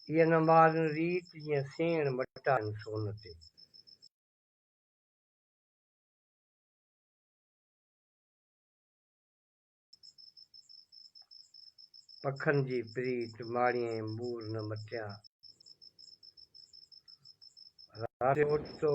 ايئن نه مارن ريت، جيئن سيڻ مٽائن سون تي. پکن جي پريت، ماڻيئي مور نه مٽيان. راتيون اوچتو،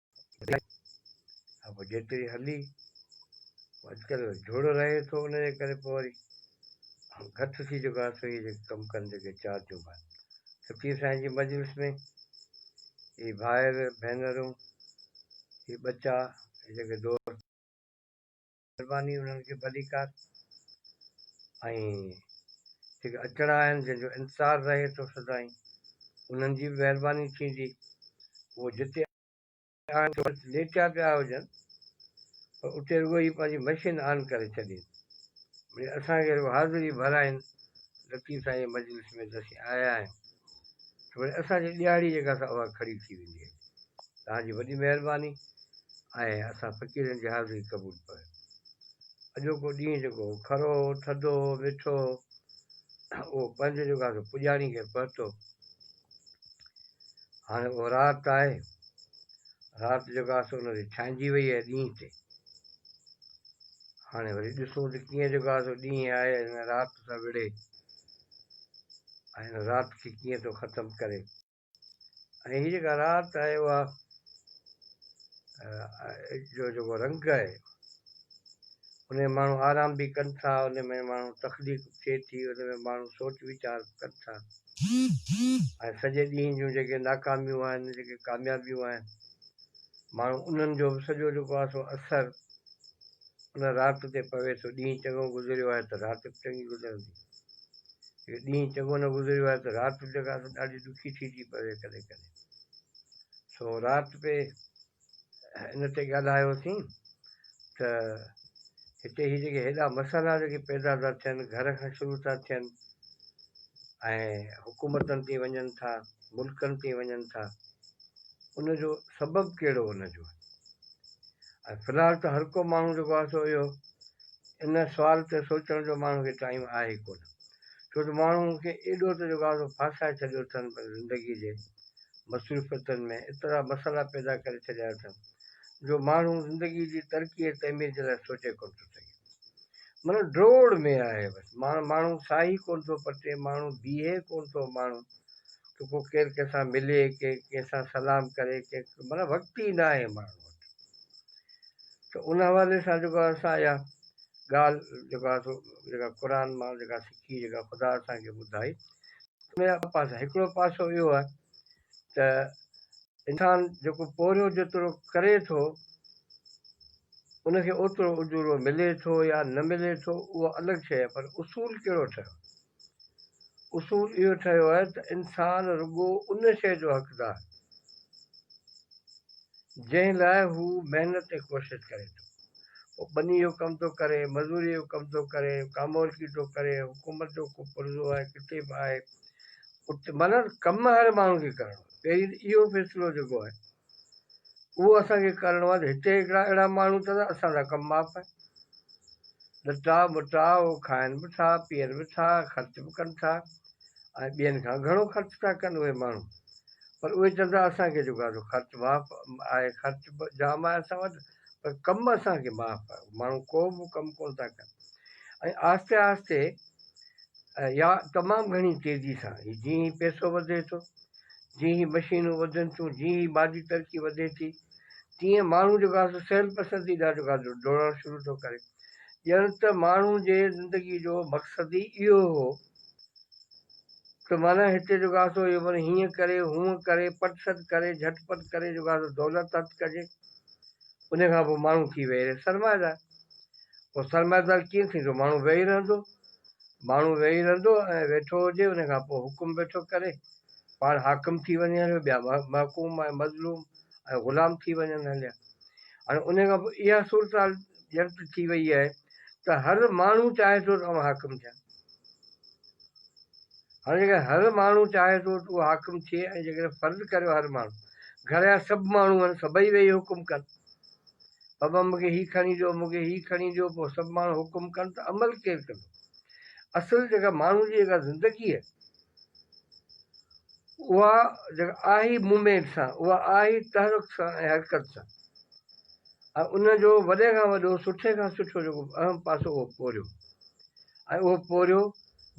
ها پوء جيتري هلي اڄڪلهه جهڙو رهي ٿو ان جي ڪري پوء وري گهٽ ٿي چڪو آهي سوئي جيڪي ڪم ڪن جيڪي چار جون ڀائر فقير سائين جي مجلس ۾ هي ڀائر ڀينرون هي ٻچا جيڪي دوست مھرباني انھن کي ڀليڪار ۽ جيڪي اچڻا آھن جن جو انتظار رھي ٿو سدائين انھن جي به مھرباني ٿيندي اھو جتي آھن سو ليٽيا پيا ھجن پر اتي رڳو ھي پنھنجي مشين آن ڪري ڇڏين مڙي اسان کي رڳو حاضري ڀرائين لطيف سائين جي مجلس ۾ ته اسين آيا آھيون ته مڙي اسان جي ڏيھاڙي جيڪا سا اھا کڙي ٿي ويندي ھلي توهان جي وڏي مهرباني آهي اسان فقيرن جي حاضري قبول پئي اڄوڪو ڏينهن جيڪو هو کرو هو ٿڌو هو مٺو هو اهو پنهنجو جيڪو آهي پڄاڻي کي پهتو هاڻي اهو رات آهي رات جيڪو آهي سو ان تي ڇانئجي وئي آهي ڏينهن تي هاڻي وري ڏسون ته ڪيئن جيڪو آهي سو ڏينهن آهي هن رات سان وڙهي ۽ هن رات کي ڪيئن ٿو ختم ڪري ۽ هي جيڪا رات آهي اها جو جيڪو رنگ آهي ان ۾ ماڻهو آرام به ڪن ٿا ان ۾ ماڻهو تخليق ٿئي ٿي ان ۾ ماڻهو سوچ ويچار ڪن ٿا ۽ سڄي ڏينهن جون جيڪي ناڪاميون آهن جيڪي ڪاميابيون آهن ماڻهو انهن جو به سڄو جيڪو آهي سو اثر ان رات تي پوي ٿو ڏينهن چڱو گذريو آهي ته رات به چڱي گذرندي جو ڏينهن چڱو نه گذريو آهي ته رات به جڳهه سان ڏاڍي ڏکي ٿي ٿي پوي ڪڏهن ڪڏهن. سو رات پي ان تي ڳالهايوسين ته هتي هي جيڪي هيڏا مسئلا جيڪي پيدا ٿا ٿين گهر کان شروع ٿا ٿين ۽ حڪومتن تي وڃن ٿا ملڪن تي وڃن ٿا ان جو سبب ڪهڙو ان جو ۽ في الحال ته هر ڪو ماڻهو جيڪو آهي سو اهو ان سوال تي سوچڻ جو ماڻهو کي ٽائيم آهي ڪونه ڇو ته ماڻهو مون کي ايڏو ته جوڳازو ڦاسائي ڇڏيو اٿن پر زندگي جي مصروفيتن ۾ ايترا مسئلا پيدا ڪري ڇڏيا اٿن جو ماڻهو زندگي جي ترقي ۽ تعمير جي لاء سوچي ڪونه ٿو سگهي من ڊوڙ ۾ آهي بس ماڻهو ماڻهو ساهي ڪونه ٿو پٽي ماڻهو بيهي ڪونه ٿو ماڻهو ته ڪو ڪير ڪنهن سان ملي ڪي ڪنهن سان سلام ڪري ڪي من وقت ئي ناهي ماڻهو ته ان حوالي سان جيڪو آهي اسان اها ڳالهه جيڪو آهي سو جيڪا قرآن مان جيڪا سکي جيڪا خدا اسان کي ٻڌائي ان جا ٻه پاسا هڪڙو پاسو اهو آهي ته انسان جيڪو پورهيو جيترو ڪري ٿو ان کي اوترو اجورو ملي ٿو يا نه ملي ٿو اهو الڳ شيء پر اصول ڪهڙو ٺهيو اصول اهو ٺهيو آهي ته انسان رڳو ان شيء جو حقدار جنهن لاء هو محنت ۽ ڪوشش ڪري ٿو. پوء ٻني جو ڪم ٿو ڪري، مزوريء جو ڪم ٿو ڪري، ڪامورڪي ٿو ڪري، حڪومت جو ڪو پرزو آهي، ڪٿي به آهي، ات معنيٰ ته ڪم هر ماڻهو کي ڪرڻو آهي. پهرين ته اهو فيصلو جيڪو آهي اهو اسان کي ڪرڻو آهي ته هتي هڪڙا اهڙا ماڻهو ته اسان سان ڪم ماپ آهي. لٽا ٻٽا اهو کائن به ٿا، پيئن به ٿا، خرچ به ڪن ٿا ۽ ٻين کان گهڻو خرچ ٿا ڪن اهي ماڻهو. پر اهي چون ٿا اسان کي جيڪو آهي سو خرچ ماپ آهي، خرچ به جام آهي اسان وٽ. پر ڪم اسان کي معاف آهي ماڻهو ڪو به ڪم ڪونه ٿا ڪن ۽ آهستي آهستي يا تمام گهڻي تيزي سان هي جيئن هي پيسو وڌي ٿو جيئن هي مشينون وڌن ٿيون جيئن هي مادي ترقي وڌي ٿي تيئن ماڻهو جيڪو آهي سو سيل پسندي ڏانهن جيڪو آهي ڊوڙڻ شروع ٿو ڪري ڄڻ ته ماڻهو جي زندگي جو مقصد ئي اهو هو ته معنيٰ هتي جو گاسو اهو وري هيئن ڪري، هونء ڪري، پٽ سٽ ڪري، جهٽ پٽ ڪري جو گاسو دولت هٿ ڪجي، انهيء کان پوء ماڻهو ٿي ويهي رهي سرمائيدار. پوء سرمائيدار ڪيئن ٿيندو؟ ماڻهو ويهي رهندو. ماڻهو ويهي رهندو ۽ ويٺو هجي، انهيء کان پوء حڪم ويٺو ڪري، پاڻ حاڪم ٿي وڃي هليو، ٻيا محڪوم ۽ مظلوم ۽ غلام ٿي وڃن هليا. هاڻي انهيء کان پوء اها صورتحال ڄڻ ته ٿي ويئي آهي، ته هر ماڻهو چاهي ٿو ته اوهان حاڪم ٿيا. هاڻي جيڪڏهن هر ماڻهو چاهي ٿو ته اهو حاڪم ٿئي ۽ جيڪڏهن فرض ڪريو هر ماڻهو گهر جا سڀ ماڻهو هن سڀئي ويهي حڪم ڪن بابا مونکي هي کڻي ڏيو مونکي هي کڻي ڏيو پوء سڀ ماڻهو حڪم ڪن ته عمل ڪير ڪندو اصل جيڪا ماڻهو جي جيڪا زندگي اها جيڪا آهي موومينٽ سان اها آهي تحرڪ سان ۽ حرڪت سان ۽ ان جو وڏي کان وڏو سٺي کان سٺو جيڪو اهم پاسو اهو پورهيو ۽ اهو پورهيو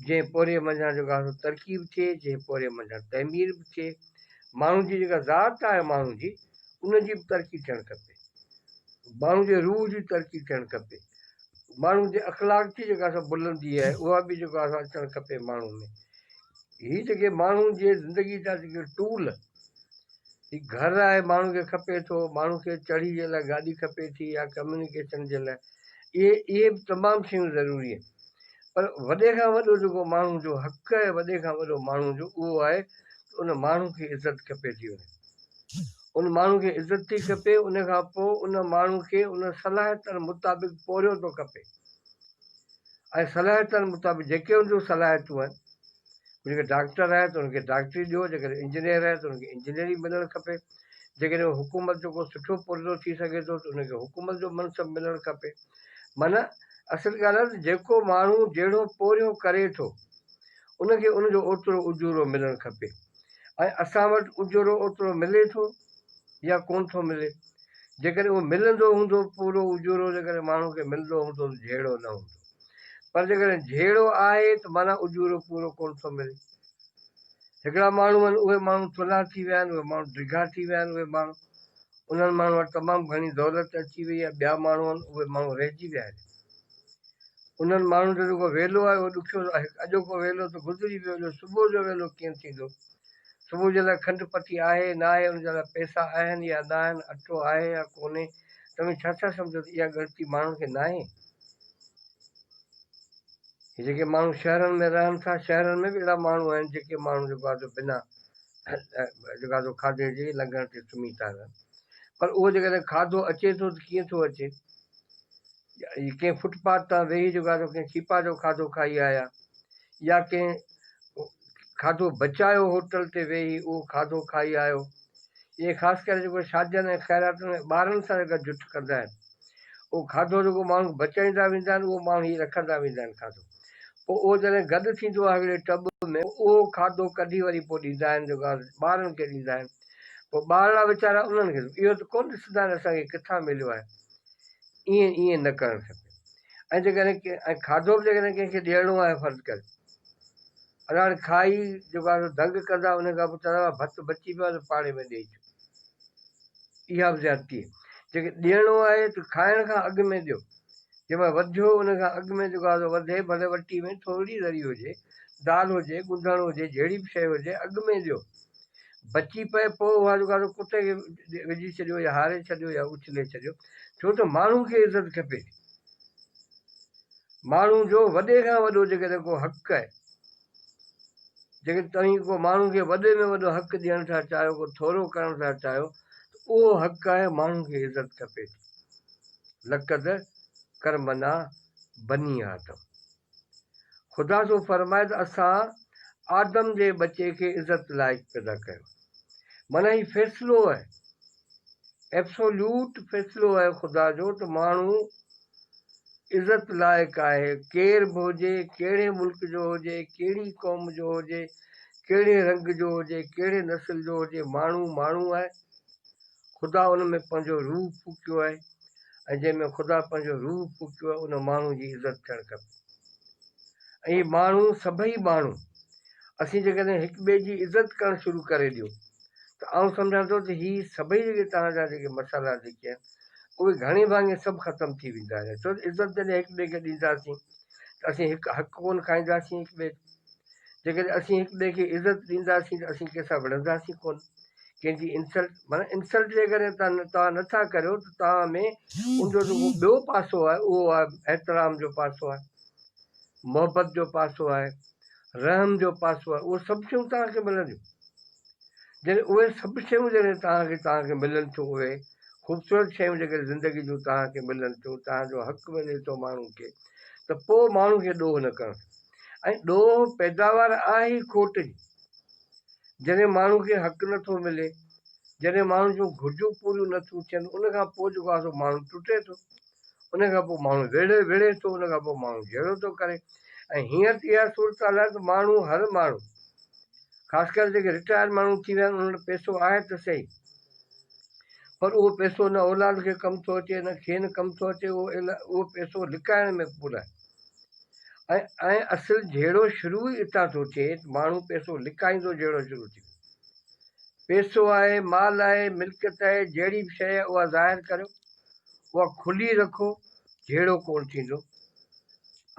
جنهن پورهيي منجهان جيڪا سو ترقي به ٿئي جنهن پورهيي منجهان تعمير به ٿئي ماڻهو جي جيڪا ذات آهي ماڻهو جي ان جي به ترقي ٿيڻ کپي ماڻهو جي روح جي ترقي ٿيڻ کپي ماڻهن جي اخلاق جي جيڪا سا بلندي آهي اها به جيڪو آهي سا اچڻ کپي ماڻهن ۾ هي جيڪي ماڻهن جي زندگي جا جيڪي ٽول هي گهر آهي ماڻهن کي کپي ٿو ماڻهن کي چڙهي جي لاء گاڏي کپي ٿي يا ڪميونيڪيشن جي لاء اهي اهي به تمام شيون ضروري آهن پر وڏي کان وڏو جيڪو ماڻهن جو حق آهي وڏي کان وڏو ماڻهن جو اهو آهي ان ماڻهن کي عزت کپي ٿي وڃي ان ماڻهو کي عزت ٿي کپي ان کان پوء ان ماڻهو کي ان صلاحيتن مطابق پورهيو ٿو کپي ۽ صلاحيتن مطابق جيڪي ان جون صلاحيتون آهن جيڪڏهن ڊاڪٽر آهي ته ان کي ڊاڪٽري ڏيو جيڪڏهن انجنيئر آهي ته ان کي انجنيئري ملڻ کپي جيڪڏهن هو حڪومت جو ڪو سٺو پرزو ٿي سگهي ٿو ته ان کي حڪومت جو منصب ملڻ کپي معنيٰ اصل ڳالهه آهي ته جيڪو ماڻهو جهڙو پورهيو ڪري ٿو ان کي ان جو اوترو اجورو ملڻ کپي ۽ اسان وٽ اجورو اوترو ملي ٿو يا ڪون ٿو ملي؟ جيڪڏهن اهو ملندو هوندو پورو اجورو جيڪڏهن ماڻهو کي ملندو هوندو ته جهيڙو نه هوندو پر جيڪڏهن جهيڙو آهي ته معنيٰ اجورو پورو ڪون ٿو ملي. هڪڙا ماڻهو آهن اهي ماڻهو ٿلها ٿي ويا آهن اهي ماڻهو ڊگها ٿي ويا آهن اهي ماڻهو انهن ماڻهن وٽ تمام گهڻي دولت اچي وئي آهي ٻيا ماڻهو آهن اهي ماڻهو رهجي ويا آهن انهن ماڻهن جو جيڪو ويلو آهي اهو ڏکيو آهي. هڪ اڄوڪو ويلو ته گذري ويو، جو صبح جو ويلو ڪيئن ٿيندو؟ صبح جي لاء کنڊ پتي آهي، ناهي، ان جي لاء پئسا آهن يا ناهن، اٽو آهي يا ڪونهي، توهين ڇا ٿا سمجهو ته اها ڳڻتي ماڻهن کي ناهي؟ هي جيڪي ماڻهو شهرن ۾ رهن ٿا، شهرن ۾ به اهڙا ماڻهو آهن، جيڪي ماڻهو جيڪو آهي سو بنا جيڪو آهي سو کاڌي جي لنگهڻ تي سمهي ٿا رهن. پر اهو جيڪڏهن کاڌو اچي ٿو ته ڪيئن ٿو اچي؟ ڪنهن فٽ پاٿ تان ويهي جيڪو آسان ڪنهن ڇيپا جو کاڌو کائي آيا يا ڪنهن کاڌو بچايو هوٽل تي ويهي اهو کاڌو کائي آيو ائين خاص ڪري جيڪو شادين ۽ خيراتن ۾ ٻارن سان گڏ جٺ ڪندا آهن اهو کاڌو جيڪو ماڻهو بچائيندا ويندا آهن اهو ماڻهو ئي رکندا ويندا آهن کاڌو پوء اهو جڏهن گڏ ٿيندو آهي هڪڙي ٽٻ ۾ اهو کاڌو ڪڍي وري پوء ڏيندا آهن جيڪو آهي ٻارن کي ڏيندا آهن پوء ٻارڙا ويچارا انهن کي اهو ته ڪونه ڏسندا آهن اسان کي ڪٿان مليو آهي ائين ائين نه ڪرڻ کپي ۽ جيڪڏهن ڪنهن کاڌو به جيڪڏهن ڪنهن کي ڏيڻو آهي فرض ڪر ادا هاڻي کائي جيڪو آهي دنگ ڪندا ان کان پوء چوندا ڀت بچي پيو آهي پاڻي ۾ ڏيئي اچو اها به زيادتي آهي جيڪي ڏيڻو آهي ته کائڻ کان اڳ ۾ ڏيو جنهن مهل وڌيو ان کان اڳ ۾ جيڪو آهي وڌي ڀلي وٽي ۾ ٿوري ذري هجي دال هجي ڳندهڻ هجي جهڙي به شيء هجي اڳ ۾ ڏيو بچي پئي پوء اها جو گاڏو ڪتي کي وجهي ڇڏيو يا هاري ڇڏيو يا اڇلي ڇڏيو ڇو ته ماڻهو کي عزت کپي ٿي ماڻهو جو وڏي کان وڏو جيڪڏهن ڪو حق آهي جيڪڏهن توهين ڪو ماڻهو کي وڏي ۾ وڏو حق ڏيڻ ٿا چاهيو ڪو ٿورو ڪرڻ ٿا چاهيو ته اهو حق آهي ماڻهو کي عزت کپي ٿي لقد ڪرمنا بني آدم خدا سو فرمائي ته اسان آدم جي ٻچي کي عزت لائق پيدا ڪيو. معنيٰ هي فيصلو اهي، Absolute، فيصلو اهي خدا جو ته ماڻهو عزت لائق آهي، ڪير به هجي، ڪهڙي ملڪ جو هجي، ڪهڙي قوم جو هجي، ڪهڙي رنگ جو هجي، ڪهڙي نسل جو هجي، ماڻهو ماڻهو آهي. خدا ان ۾ پنهنجو روح ڦوڪيو آهي ۽ جنهن ۾ خدا پنهنجو روح ڦوڪيو آهي ان ماڻهو جي عزت ٿيڻ کپي ۽ هي ماڻهو سڀئي ماڻهو اسين جيڪڏهن هڪ ٻئي جي عزت ڪرڻ شروع ڪري ڏيو ته آئون سمجهان ٿو ته هي سڀئي جيڪي توهان جا جيڪي مسئلا جيڪي آهن اهي گهڻي ڀاڱي سڀ ختم ٿي ويندا آهن ڇو ته عزت جڏهن هڪ ٻئي کي ڏينداسين ته اسين هڪ حق ڪونه کائينداسين هڪ ٻئي جيڪڏهن اسين هڪ ٻئي کي عزت ڏينداسين ته اسين ڪنهن سان وڙهنداسين ڪونه ڪنهن جي انسلٽ معنيٰ انسلٽ جي ڪري توهان نٿا ڪريو ته توهان ۾ ان جو جيڪو ٻيو پاسو آهي اهو آهي احترام جو پاسو آهي محبت جو پاسو آهي رحم جو پاسو آهي اهو سڀ شيون توهان کي ملنديون جڏهن اهي سڀ شيون جڏهن توهان کي توهان کي ملن ٿيون اهي خوبصورت شيون جيڪڏهن زندگي جون توهان کي ملن ٿيون توهان جو حق ملي ٿو ماڻهو کي ته پوء ماڻهو کي ڏوهه نه ڪرڻ ۽ ڏوهه پيداوار آهي ئي کوٽ جي. جڏهن ماڻهو کي حق نه ٿو ملي، جڏهن ماڻهو جون گهرجون پوريون نه ٿيون ٿين، ان کان پوء جيڪو آهي سو ماڻهو ٽٽي ٿو، ان کان پوء ماڻهو وڙهي وڙهي ٿو، ان کان پوء ماڻهو جهيڙو ٿو ڪري ۽ هينئر ته اها صورتحال آهي ته ماڻهو هر ماڻهو خاص ڪري جيڪي رٽائرڊ ماڻهو ٿي ويا آهن انهن وٽ پئسو آهي ته سهي پر اهو پئسو نه اولاد کي ڪم ٿو اچي نه کين ڪم ٿو اچي اهو اهو پئسو لڪائڻ ۾ پورا ۽ اصل جهيڙو شروع ئي اتان ٿو ٿئي ته ماڻهو پئسو لڪائيندو جهيڙو شروع ٿيندو. پئسو آهي، مال آهي، ملڪيت آهي، جهڙي به شيء آهي اها ظاهر ڪريو، اها کلي رکو، جهيڙو ڪونه ٿيندو.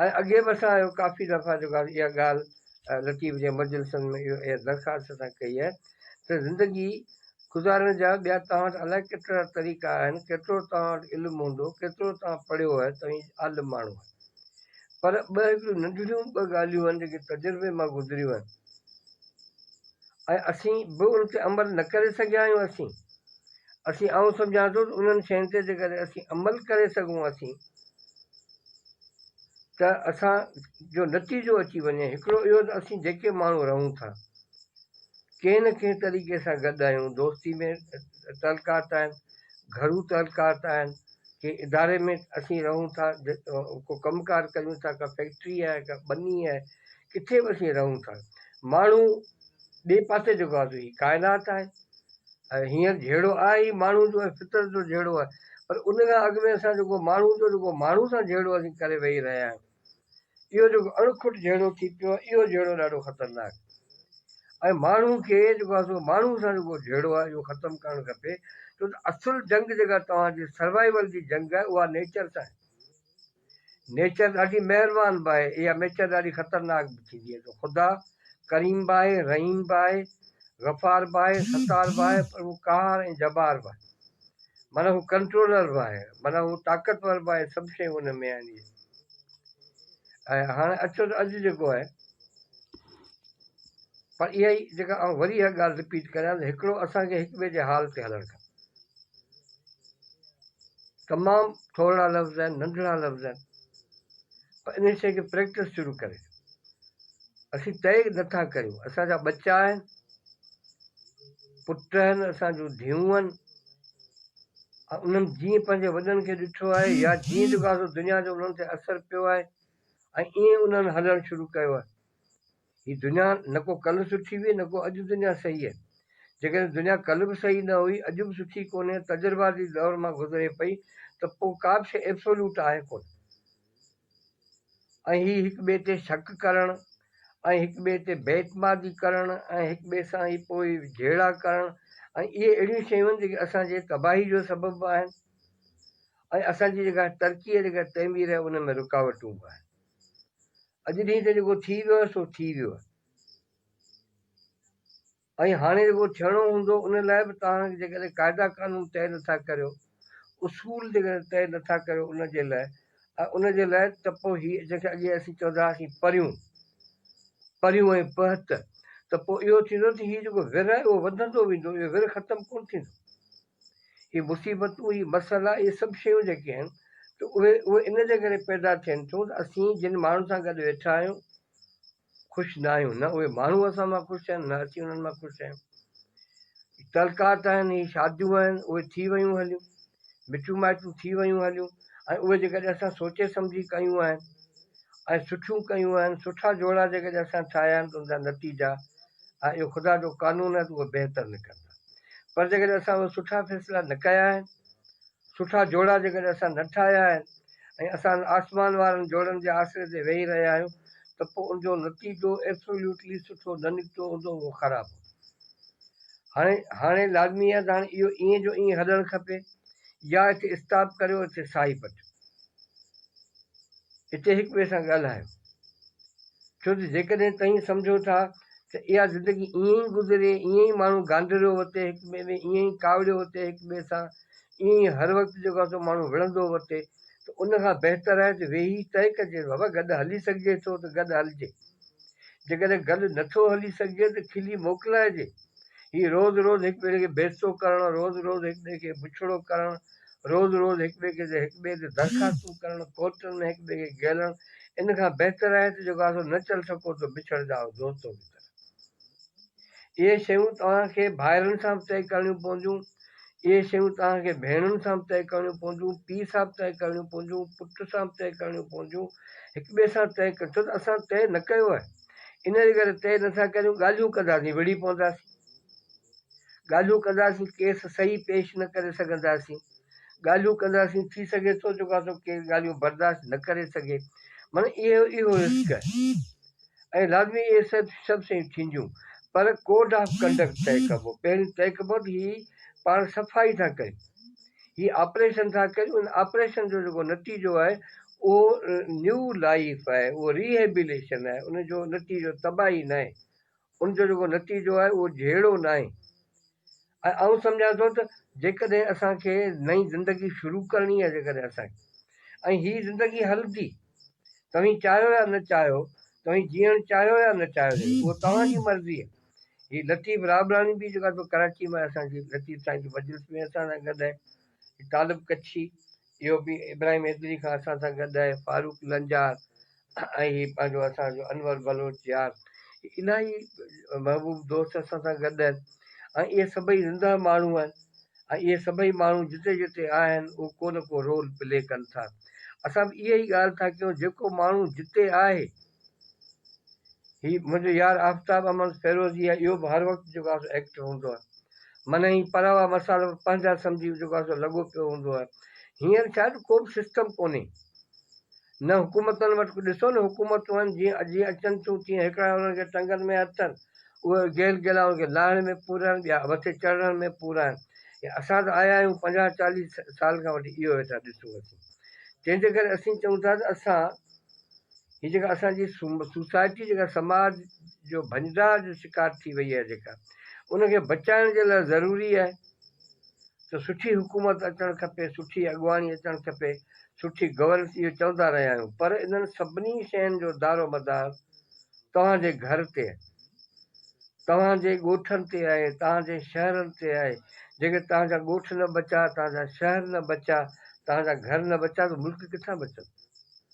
۽ اڳي به اسان اهو ڪافي دفعا جيڪو اها ڳالهه لطيف جي مجلسن ۾ اها درخواست اسان ڪئي آهي ته زندگي گذارڻ جا ٻيا توهان وٽ الائي ڪيترا طريقا آهن، ڪيترو توهان وٽ علم هوندو، ڪيترو توهان پڙهيو آهي، توهين عالم ماڻهو آهيو. پر ٻه هڪڙيون ننڍڙيون ٻه ڳالهيون آهن جيڪي تجربي مان گذريون آهن ۽ اسين به ان تي عمل نه ڪري سگهيا آهيون اسين اسين آئون سمجهان ٿو ته انهن شين تي جيڪڏهن اسين عمل ڪري سگهون اسين ته اسان جو نتيجو اچي وڃي هڪڙو اهو ته اسين جيڪي ماڻهو رهون ٿا ڪنهن نه ڪنهن طريقي سان گڏ آهيون، دوستي ۾ تعلقات آهن، گهرو تعلقات آهن، ڪنهن اداري ۾ اسين رهون ٿا، ڪو ڪم ڪار ڪريون ٿا، ڪا فيڪٽري آهي، ڪا ٻني آهي، ڪٿي به اسين رهون ٿا، ماڻهو ٻئي پاسي جيڪو آهي سو هي ڪائنات آهي ۽ هينئر جهيڙو آهي ئي ماڻهو جو ۽ فطرت جو جهيڙو آهي پر ان کان اڳ ۾ اسان جيڪو ماڻهو جو جيڪو ماڻهو سان جهيڙو اسين ڪري ويهي رهيا آهيون. اهو جيڪو اڻکٽ جهيڙو ٿي پيو آهي اهو جهيڙو ڏاڍو خطرناڪ ۽ ماڻهو کي جيڪو آهي سو ماڻهو سان جيڪو جهيڙو آهي اهو ختم ڪرڻ کپي ڇو ته اصل جنگ جيڪا توهان جي سروائيول جي جنگ آهي اها نيچر سان آهي نيچر ڏاڍي مهربان به آهي اها نيچر ڏاڍي خطرناڪ به ٿيندي آهي ته خدا ڪريم به آهي رحيم به آهي غفار به آهي ستار به آهي پر هو قهار ۽ جبار به آهي معنيٰ هو ڪنٽرولر به آهي معنيٰ هو طاقتور به آهي سڀ شيون ان ۾ آهن ۽ هاڻ اچو ته اڄ جيڪو آهي پر اها ئي جيڪا آئون وري اها ڳالهه رپيٽ ڪريان ته هڪڙو اسان کي هڪ ٻئي جي حال تي هلڻ کپي تمام ٿورڙا لفظ آهن ننڍڙا لفظ آهن پر ان شيء کي پريڪٽس شروع ڪري اسين طئي نٿا ڪريون اسان جا ٻچا آهن پٽ آهن اسان جون ڌيون آهن انهن جيئن پنهنجي وڏن کي ڏٺو آهي يا جيئن جو ڪاسو دنيا جو انهن تي اثر پيو آهي ۽ ائين انهن هلڻ شروع ڪيو آهي. هي دنيا نه ڪو ڪلهه سٺي هئي نه ڪو اڄ دنيا صحيح آهي. جيڪڏهن دنيا ڪلهه به صحيح نه هئي اڄ به سٺي ڪونهي تجرباتي دور مان گذري پئي ته پوء ڪا به شيء ابسولوٽ آهي ڪونه. ۽ هي هڪ ٻئي تي شڪ ڪرڻ ۽ هڪ ٻئي تي بي اعتمادي ڪرڻ ۽ هڪ ٻئي سان ئي پوء جهيڙا ڪرڻ ۽ اهي اهڙيون شيون آهن جيڪي اسان جي تباهي جو سبب به آهن ۽ اسان جي جيڪا ترقي ۽ جيڪا تعمير آهي ان ۾ رڪاوٽون به آهن اڄ ڏينهن تي جيڪو ٿي ويو آهي سو ٿي ويو آهي. ۽ هاڻي جيڪو ٿيڻو هوندو ان لاء به توهان جيڪڏهن قاعدا قانون طئي نٿا ڪريو، اصول جيڪڏهن طئي نٿا ڪريو ان جي لاء ۽ ان جي لاء ته پوء هي جنهن کي اڳي اسين چوندا هئاسين پريون پريون ۽ پهت ته پوء اهو ٿيندو ته هي جيڪو ور آهي اهو وڌندو ويندو اهو ور ختم ڪونه ٿيندو. هي مصيبتون هي مسئلا اهي سڀ شيون جيڪي آهن ته اهي اهي ان جي ڪري پيدا ٿين ٿيون ته اسين جن ماڻهن سان گڏ ويٺا آهيون خوش نه آهيون، نه اهي ماڻهو اسان مان خوش آهن، نه اسين انهن مان خوش آهيون. هي تعلقات آهن، هي شاديون آهن، اهي ٿي ويون هليون، مٽيون مائٽيون ٿي ويون هليون ۽ اهي جيڪڏهن اسان سوچي سمجهي ڪيون آهن ۽ سٺيون ڪيون آهن، سٺا جوڙا جيڪڏهن اسان ٺاهيا آهن ته ان جا نتيجا ۽ اهو خدا جو قانون آهي ته اهي بهتر نڪرندا پر جيڪڏهن اسان اهي سٺا فيصلا نه ڪيا آهن سٺا جوڙا جيڪڏهن اسان نه ٺاهيا آهن ۽ اسان آسمان وارن جوڙن جي آسري تي ويهي رهيا آهيون ته پوء ان جو نتيجو Absolutely سٺو نه نڪتو هوندو اهو خراب هوندو. هاڻي لازمي آهي ته هاڻي اهو ائين جو ائين هلڻ کپي يا اتي اسٽاپ ڪريو اتي ساهي پٽيو اتي هڪ ٻئي سان ڳالهايو ڇو ته جيڪڏهن توهين سمجهو ٿا ته اها زندگي ائين ئي گذري ائين ئي ماڻهو گانڌريو وتي هڪ ٻئي ۾ ائين ئي ڪاوڙيو وتي هڪ ٻئي سان ائين ئي هر وقت جيڪو آهي سو ماڻهو وڙهندو ورتي ته ان کان بهتر آهي ته ويهي طئي ڪجي ته بابا گڏ هلي سگهجي ٿو ته گڏ هلجي، جيڪڏهن گڏ نه ٿو هلي سگهجي ته کلي موڪلائجي. هي روز روز هڪ ٻئي کي بيستو ڪرڻ، روز روز هڪ ٻئي کي بڇڙو ڪرڻ، روز روز هڪ ٻئي کي هڪ ٻئي تي درخواستون ڪرڻ، ڪورٽن ۾ هڪ ٻئي کي گهلڻ، ان کان بهتر آهي ته جيڪو آهي سو نه چل سگهو ته بڇڙجاء دوستو متر. اهي شيون توهان کي ڀائرن سان به طئي ڪرڻيون پونديون، اهي شيون توهان کي ڀيڻن سان به طئي ڪرڻيون پونديون، پيء سان به طئي ڪرڻيون پونديون، پٽ سان به طئي ڪرڻيون پونديون، هڪ ٻئي سان طئي ڪرڻيون ڇو ته اسان طئي نه ڪيو آهي، ان جي ڪري طئي نٿا ڪريون، ڳالهيون ڪنداسين وڙهي پونداسين، ڳالهيون ڪنداسين ڪيس صحيح پيش نه ڪري سگهنداسين، ڳالهيون ڪنداسين ٿي سگهي ٿو جيڪو آسو ڪير ڳالهيون برداشت نه ڪري سگهي، معنيٰ اهو اهو رسڪ آهي. ۽ لازمي اهي سڀ شيون ٿينديون پر ڪوڊ آف ڪنڊڪٽ طئي ڪبو پهريون طئي ڪبو ته هي پاڻ صفائي ٿا ڪريون هي آپريشن ٿا ڪريون ان آپريشن جو جيڪو نتيجو آهي اهو نيو لائيف آهي اهو ريهيبليشن آهي ان جو نتيجو تباهي ناهي ان جو جيڪو نتيجو آهي اهو جهيڙو ناهي ۽ آئون سمجهان ٿو ته جيڪڏهن اسان کي نئين زندگي شروع ڪرڻي آهي جيڪڏهن اسان کي ۽ هي زندگي هلندي توهين چاهيو يا نه چاهيو توهين جيئڻ چاهيو يا نه چاهيو جي اهو توهان جي مرضي آهي هي لطيف رابڙاڻي به جيڪو آهي سو ڪراچي مان آهي اسان جي لطيف سائين جي مجلس ۾ اسان سان گڏ آهي طالب ڪڇي اهو به ابراهيم حيدري کان اسان سان گڏ آهي، فاروق لنجار ۽ هي پنهنجو اسان جو انور بلوچ يار الاهي محبوب دوست اسان سان گڏ آهن ۽ اهي سڀئي زنده ماڻهو آهن ۽ اهي سڀئي ماڻهو جتي جتي آهن اهو ڪو نه ڪو رول پلي ڪن ٿا اسان به اهي ئي ڳالهه ٿا ڪيون جيڪو ماڻهو جتي آهي هي منهنجو يار آفتاب احمد فيروزي آهي اهو به هر وقت جيڪو آهي سو ايڪٽو هوندو آهي مني هي پراوا مسال به پنهنجا سمجهي جيڪو آهي سو لڳو پيو هوندو آهي هينئر ڇا جو ڪو به سسٽم ڪونهي نه حڪومتن وٽ ڏسو نه حڪومتون آهن جيئن اڄ اچن ٿيون تيئن هڪڙا انهن کي ٽنگن ۾ هٿ اٿن اهي گيل گيلا انهن کي لاهڻ ۾ پورا آهن ٻيا مٿي چڙهڻ ۾ پورا آهن اسان ته آيا آهيون پنجاهه چاليهه سال کان وٺي اهو ويٺا ڏسون اسين تنهن جي ڪري اسين چئون ٿا ته اسان هي جيڪا اسان جي سوسائٽي جيڪا سماج جو ڀڃدار جو شڪار ٿي وئي آهي جيڪا ان کي بچائڻ جي لاء ضروري آهي ته سٺي حڪومت اچڻ کپي سٺي اڳواڻي اچڻ کپي سٺي گورنس اهو چوندا رهيا آهيون پر انهن سڀني شين جو دار و مدار توهان جي گهر تي توهان جي ڳوٺن تي آهي توهان جي شهرن تي آهي جيڪي توهان جا ڳوٺ نه بچا توهان جا شهر نه بچا توهان جا گهر نه بچا ته ملڪ ڪٿان بچن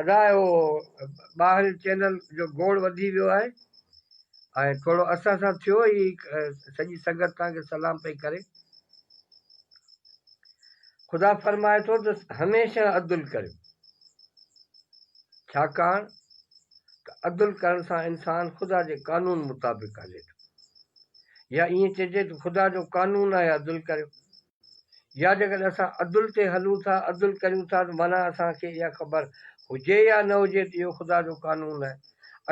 ادا اهو ٻاهرين چينل جو گوڙ وڌي ويو آهي ۽ ٿورو اسان سان ٿيو هي سڄي سنگت توهان کي سلام پئي ڪري خدا فرمائي ٿو ته هميشه عدل ڪريو ڇاڪاڻ ته عدل ڪرڻ سان انسان خدا جي قانون مطابق هلي ٿو يا ائين چئجي ته خدا جو قانون آهي عدل ڪريو يا جيڪڏهن اسان عدل تي هلون ٿا، عدل ڪريون ٿا ته معنيٰ اسان کي اها خبر هجي يا نه هجي ته اهو خدا جو قانون آهي.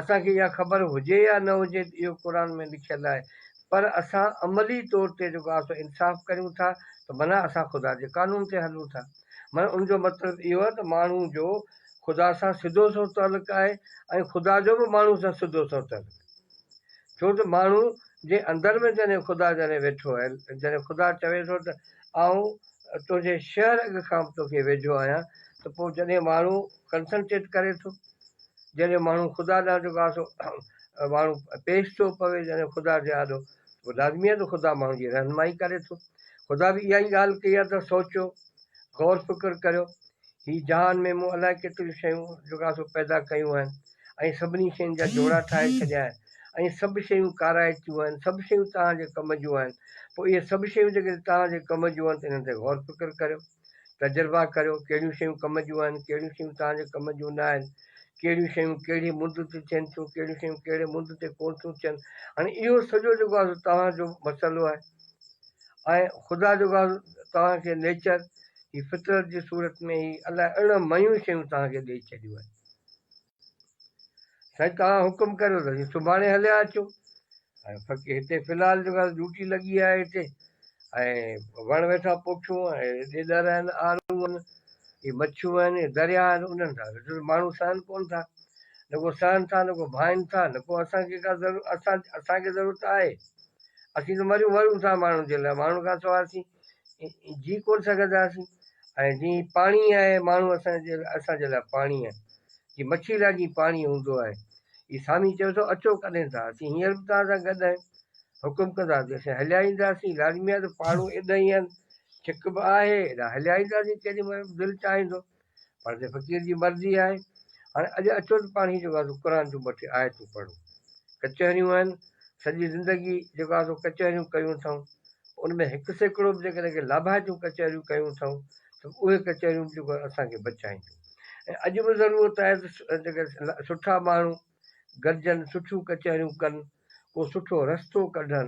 اسان کي اها خبر هجي يا نه هجي ته اهو قرآن ۾ لکيل آهي پر اسان عملي طور تي جيڪو آسو انصاف ڪريون ٿا ته معنيٰ اسان خدا جي قانون تي هلون ٿا. معنيٰ ان جو مطلب اهو آهي ته ماڻهو جو خدا سان سڌو سنئون تعلق آهي ۽ خدا جو به ماڻهو سان سڌو سنئون تعلق آهي. ڇو ته ماڻهو جي اندر ۾ جڏهن خدا جڏهن ويٺو آهي جڏهن خدا چوي ٿو ته آئون تنهنجي شهر اڳ کان به توکي ويجهو آهيان ته پوء جڏهن ماڻهو ڪنسنٽريٽ ڪري ٿو جڏهن ماڻهو خدا ڏانهن جيڪو آهي سو ماڻهو پيش ٿو پوي جڏهن خدا جي آڏو پوء لازمي آهي ته خدا ماڻهو جي رهنمائي ڪري ٿو خدا به اها ئي ڳالهه ڪئي آهي ته سوچيو غور فڪر ڪريو هي جهان ۾ مون الائي ڪيتريون شيون جيڪو آهي سو پيدا ڪيون آهن ۽ سڀني شين جا جوڙا ٺاهي ڇڏيا آهن ۽ سڀ شيون ڪارائتيون آهن سڀ شيون توهان جي ڪم جون آهن پوء اهي سڀ شيون جيڪڏهن توهان جي ڪم جون آهن ته انهن تي غور فڪر ڪريو تجربا ڪريو ڪهڙيون شيون ڪم جون آهن ڪهڙيون شيون توهان جي ڪم جون نه آهن ڪهڙيون شيون ڪهڙي مد تي ٿين ٿيون ڪهڙيون شيون ڪهڙي مد تي ڪون ٿيون ٿين هاڻي اهو سڄو جيڪو آهي توهان جو مسئلو آهي ۽ خدا جيڪو آهي توهان کي نيچر هي فطرت جي صورت ۾ هي الاء اڻ ميون شيون توهان کي ڏئي ڇڏيون آهن سائين توهان حڪم ڪريو ته اسين سڀاڻي هليا اچون ۽ فقير هتي في الحال جيڪا ڊيوٽي لڳي آهي هتي ۽ وڻ ويٺا پوکيون ۽ ڏيڏر آهن آرون آهن هي مڇيون آهن هي دريا آهن انهن سان ويٺو ماڻهو سهن ڪون ٿا نه ڪو سهن ٿا نه ڪو ڀائين ٿا نه ڪو اسان کي ڪا ضرورت اسان اسان کي ضرورت آهي اسين ته مريون مرون ٿا ماڻهن جي لاء ماڻهن کان سواء اسين جي ڪونه سگهنداسين ۽ جي پاڻي آهي ماڻهو اسان جي اسان جي لاء پاڻي آهي جي مڇي لاء جي پاڻي هوندو آهي اي سامي چيو ٿو اچو ڪڏهن ٿا اسين هينئر به توهان سان گڏ آهيون حڪم ڪندا ته اسين هليا اينداسين لازمي آهي ته پاڙو ايڏا ئي آهن ڇڪ به آهي ايڏا هليا اينداسين ڪيڏي مهل به دل چاهيندو پر ته فقير جي مرضي آهي. هاڻي اڄ اچو ته پاڻ هي جيڪو آهي سو قرآن جون ٻه ٽي آيتون پڙهون. ڪچهريون آهن، سڄي زندگي جيڪو آهي سو ڪچهريون ڪيون اٿئون. ان ۾ هڪ سيڪڙو به جيڪڏهن ڪي لاڀائتيون ڪچهريون ڪيون اٿئون ته به اهي ڪچهريون به جيڪو آهي اسان کي بچائينديون. ۽ اڄ به ضرورت آهي ته جيڪي سٺا ماڻهو گڏجن، سٺيون ڪچهريون ڪن، ڪو سٺو رستو ڪڍن،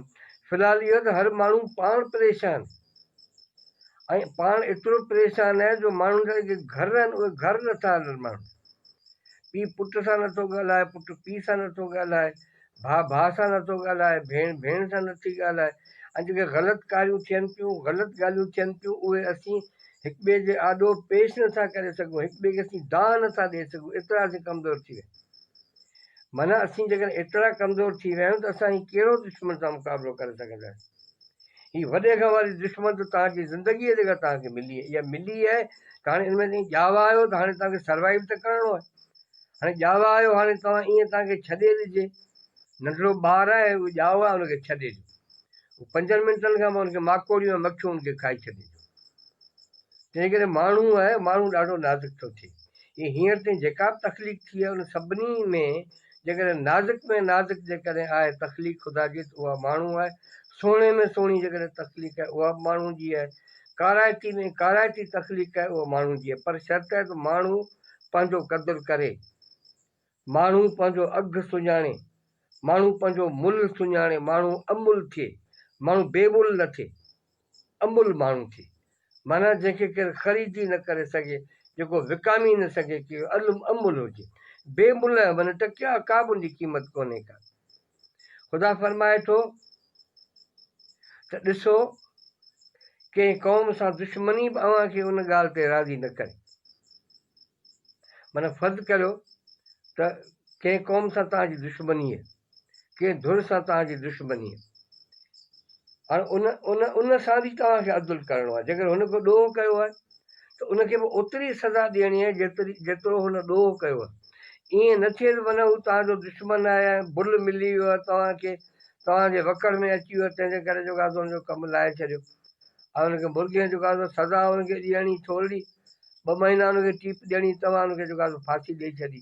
في الحال اهو ته هر ماڻهو پاڻ پريشان ۽ پاڻ ايترو پريشان آهي جو ماڻهن جا جيڪي گهر آهن اهي گهر نٿا هلن ماڻهن پي پٽ سان نٿو ڳالهائي پٽ پي سان نٿو ڳالهائي ڀاء ڀاء سان نٿو ڳالهائي ڀيڻ ڀيڻ سان نٿي ڳالهائي ۽ جيڪي غلط ڪاريون ٿين پيون غلط ڳالهيون ٿين پيون اهي اسين هڪ ٻئي جي آڏو پيش نٿا ڪري سگهون هڪ ٻئي کي اسين دانهن نٿا ڏئي سگهون ايترا اسين ڪمزور ٿي ويا معنيٰ اسين جيڪڏهن ايترا ڪمزور ٿي ويا آهيون ته اسان هي ڪهڙو دشمن سان مقابلو ڪري سگهنداسين؟ هي وڏي کان واري دشمن ته توهان جي زندگي آهي جيڪا توهان کي ملي آهي يا ملي آهي ته هاڻي ان ۾ تائين ڄاوا آهيو ته هاڻي توهان کي سروائيو ته ڪرڻو آهي. هاڻي ڄاوا آهيو هاڻي توهان ايئن توهان کي ڇڏي ڏجي ننڍڙو ٻار آهي اهو ڄائو آهي ان کي ڇڏي ڏيو. پنجن منٽن کان پوء ان کي ماڪوڙيون ۽ مکيون ان کي کائي ڇڏينديون. جيڪڏهن ماڻهو آهي، ماڻهو ڏاڍو نازڪ ٿو ٿئي. هي هينئر تائين جيڪا به تخليق ٿي آهي، ان سڀني ۾ جيڪڏهن نازڪ ۾ نازڪ جيڪڏهن آهي تخليق خدا جي ته اها ماڻهو آهي. سهڻي ۾ سهڻي جيڪڏهن تخليق آهي اها به ماڻهو جي آهي. ڪارائتي ۾ ڪارائتي تخليق آهي اها ماڻهو جي آهي. پر شرط آهي ته ماڻهو پنهنجو قدر ڪري. ماڻهو پنهنجو اگهه سڃاڻي، ماڻهو پنهنجو ملهه سڃاڻي، ماڻهو املهه ٿئي، ماڻهو بي ملهه نه ٿئي، املهه ماڻهو ٿئي، معنيٰ جنهن کي ڪير خريد ئي نه ڪري سگهي، جيڪو وڪامي نه سگهي ڪي املهه هجي، بي ملهه معنيٰ ٽڪيا ڪابه ان جي قيمت ڪونهي ڪا. خدا فرمائي ٿو ته ڏسو ڪنهن قوم سان دشمني به اوهان کي ان ڳالهه تي راضي نه ڪري. معنيٰ فرض ڪريو ته ڪنهن قوم سان توهان جي دشمني آهي، ڪنهن ڌر سان توهان جي دشمني آهي. هاڻي ان ان ان سان به توهان کي عدل ڪرڻو آهي، جيڪڏهن هن ڪو ڏوهه ڪيو آهي ته ان کي به اوتري سزا ڏيڻي آهي جيتري جيترو هن ڏوهه ڪيو آهي. ائين نه ٿئي ته معنيٰ هو توهان جو دشمن آهي ۽ بل ملي ويو آهي توهان کي، توهان جي وڪڙ ۾ اچي ويو تنهن جي ڪري جيڪو آهي سو هن جو ڪم لاهي ڇڏيو ۽ هن کي مرغين جيڪو آهي سو سزا هن کي ڏيڻي ٿورڙي. ٻه مهينا ان کي ٽيپ ڏيڻي توهان ان کي جيڪا سو ڦاسي ڏئي ڇڏي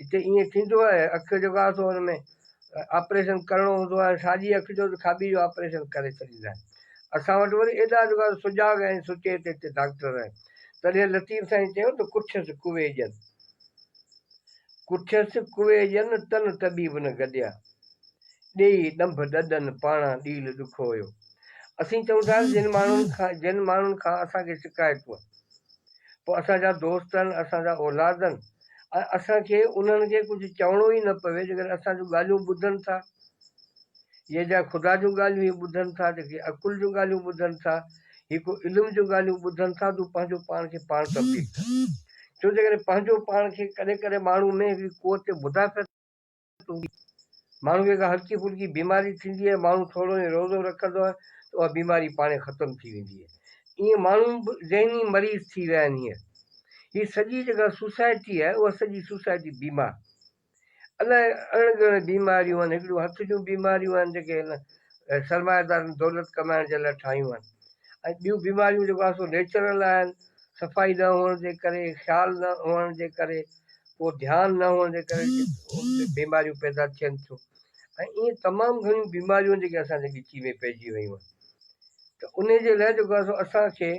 هتي ايئن ٿيندو آهي اک جو جيڪا سو ان ۾ آپريشن ڪرڻو هوندو آهي ساڄي اک جو ته کاٻي جو آپريشن ڪري ڇڏيندا آهن اسان وٽ وري ايڏا جيڪا سو سجاڳ ۽ سچيت هتي ڊاڪٽر آهن تڏهن لطيف سائين چيو ته ڪٺيس ڪوي ڄن ڪٺيس ڪوي ڄن تن طبيب نه گڏيا ڏيئي ڏنڀ ڏڏن پاڻان ڏيل ڏکو هيو اسين چئون ٿا جن ماڻهن کان جن ماڻهن کان اسان کي شڪايتون پوء اسان جا دوست آهن اسان جا اولاد آهن ۽ اسان کي انهن کي ڪجهه چوڻو ئي نه پوي جيڪڏهن اسان جون ڳالهيون ٻڌن ٿا هي جا خدا جون ڳالهيون هي ٻڌن ٿا جيڪي عقل جون ڳالهيون ٻڌن ٿا هي ڪو علم جون ڳالهيون ٻڌن ٿا تون پنهنجو پاڻ کي پاڻ تبديل ڪر ڇو جيڪڏهن پنهنجو پاڻ کي ڪڏهن ڪڏهن ماڻهو ۾ هڪڙي قوت مدافعت هوندي آهي. ماڻهوء کي ڪا هلڪي ڦلڪي بيماري ٿيندي آهي، ماڻهو ٿورو ائين روزو رکندو آهي ته اها بيماري پاڻهي ختم ٿي ويندي آهي. ائين ماڻهو به ذهني مريض ٿي ويا آهن. هينئر هي سڄي جيڪا سوسائٽي آهي، اها سڄي سوسائٽي بيمار. الائي اڻ ڳڻ بيماريون آهن، هڪڙيون هٿ جون بيماريون آهن جيڪي هن سرمائيدارن دولت ڪمائڻ جي لاء ٺاهيون آهن ۽ ٻيون بيماريون جيڪو آهن سو نيچرل آهن، صفائي نه هئڻ جي ڪري، خيال نه هئڻ جي ڪري، اهو ڌيان نه هئڻ جي ڪري بيماريون پيدا ٿين ٿيون ۽ ايئن تمام گهڻيون بيماريون جيڪي اسان جي ڳچي ۾ پئجي ويون آهن ته ان جي لاء جيڪو آهي سو اسان کي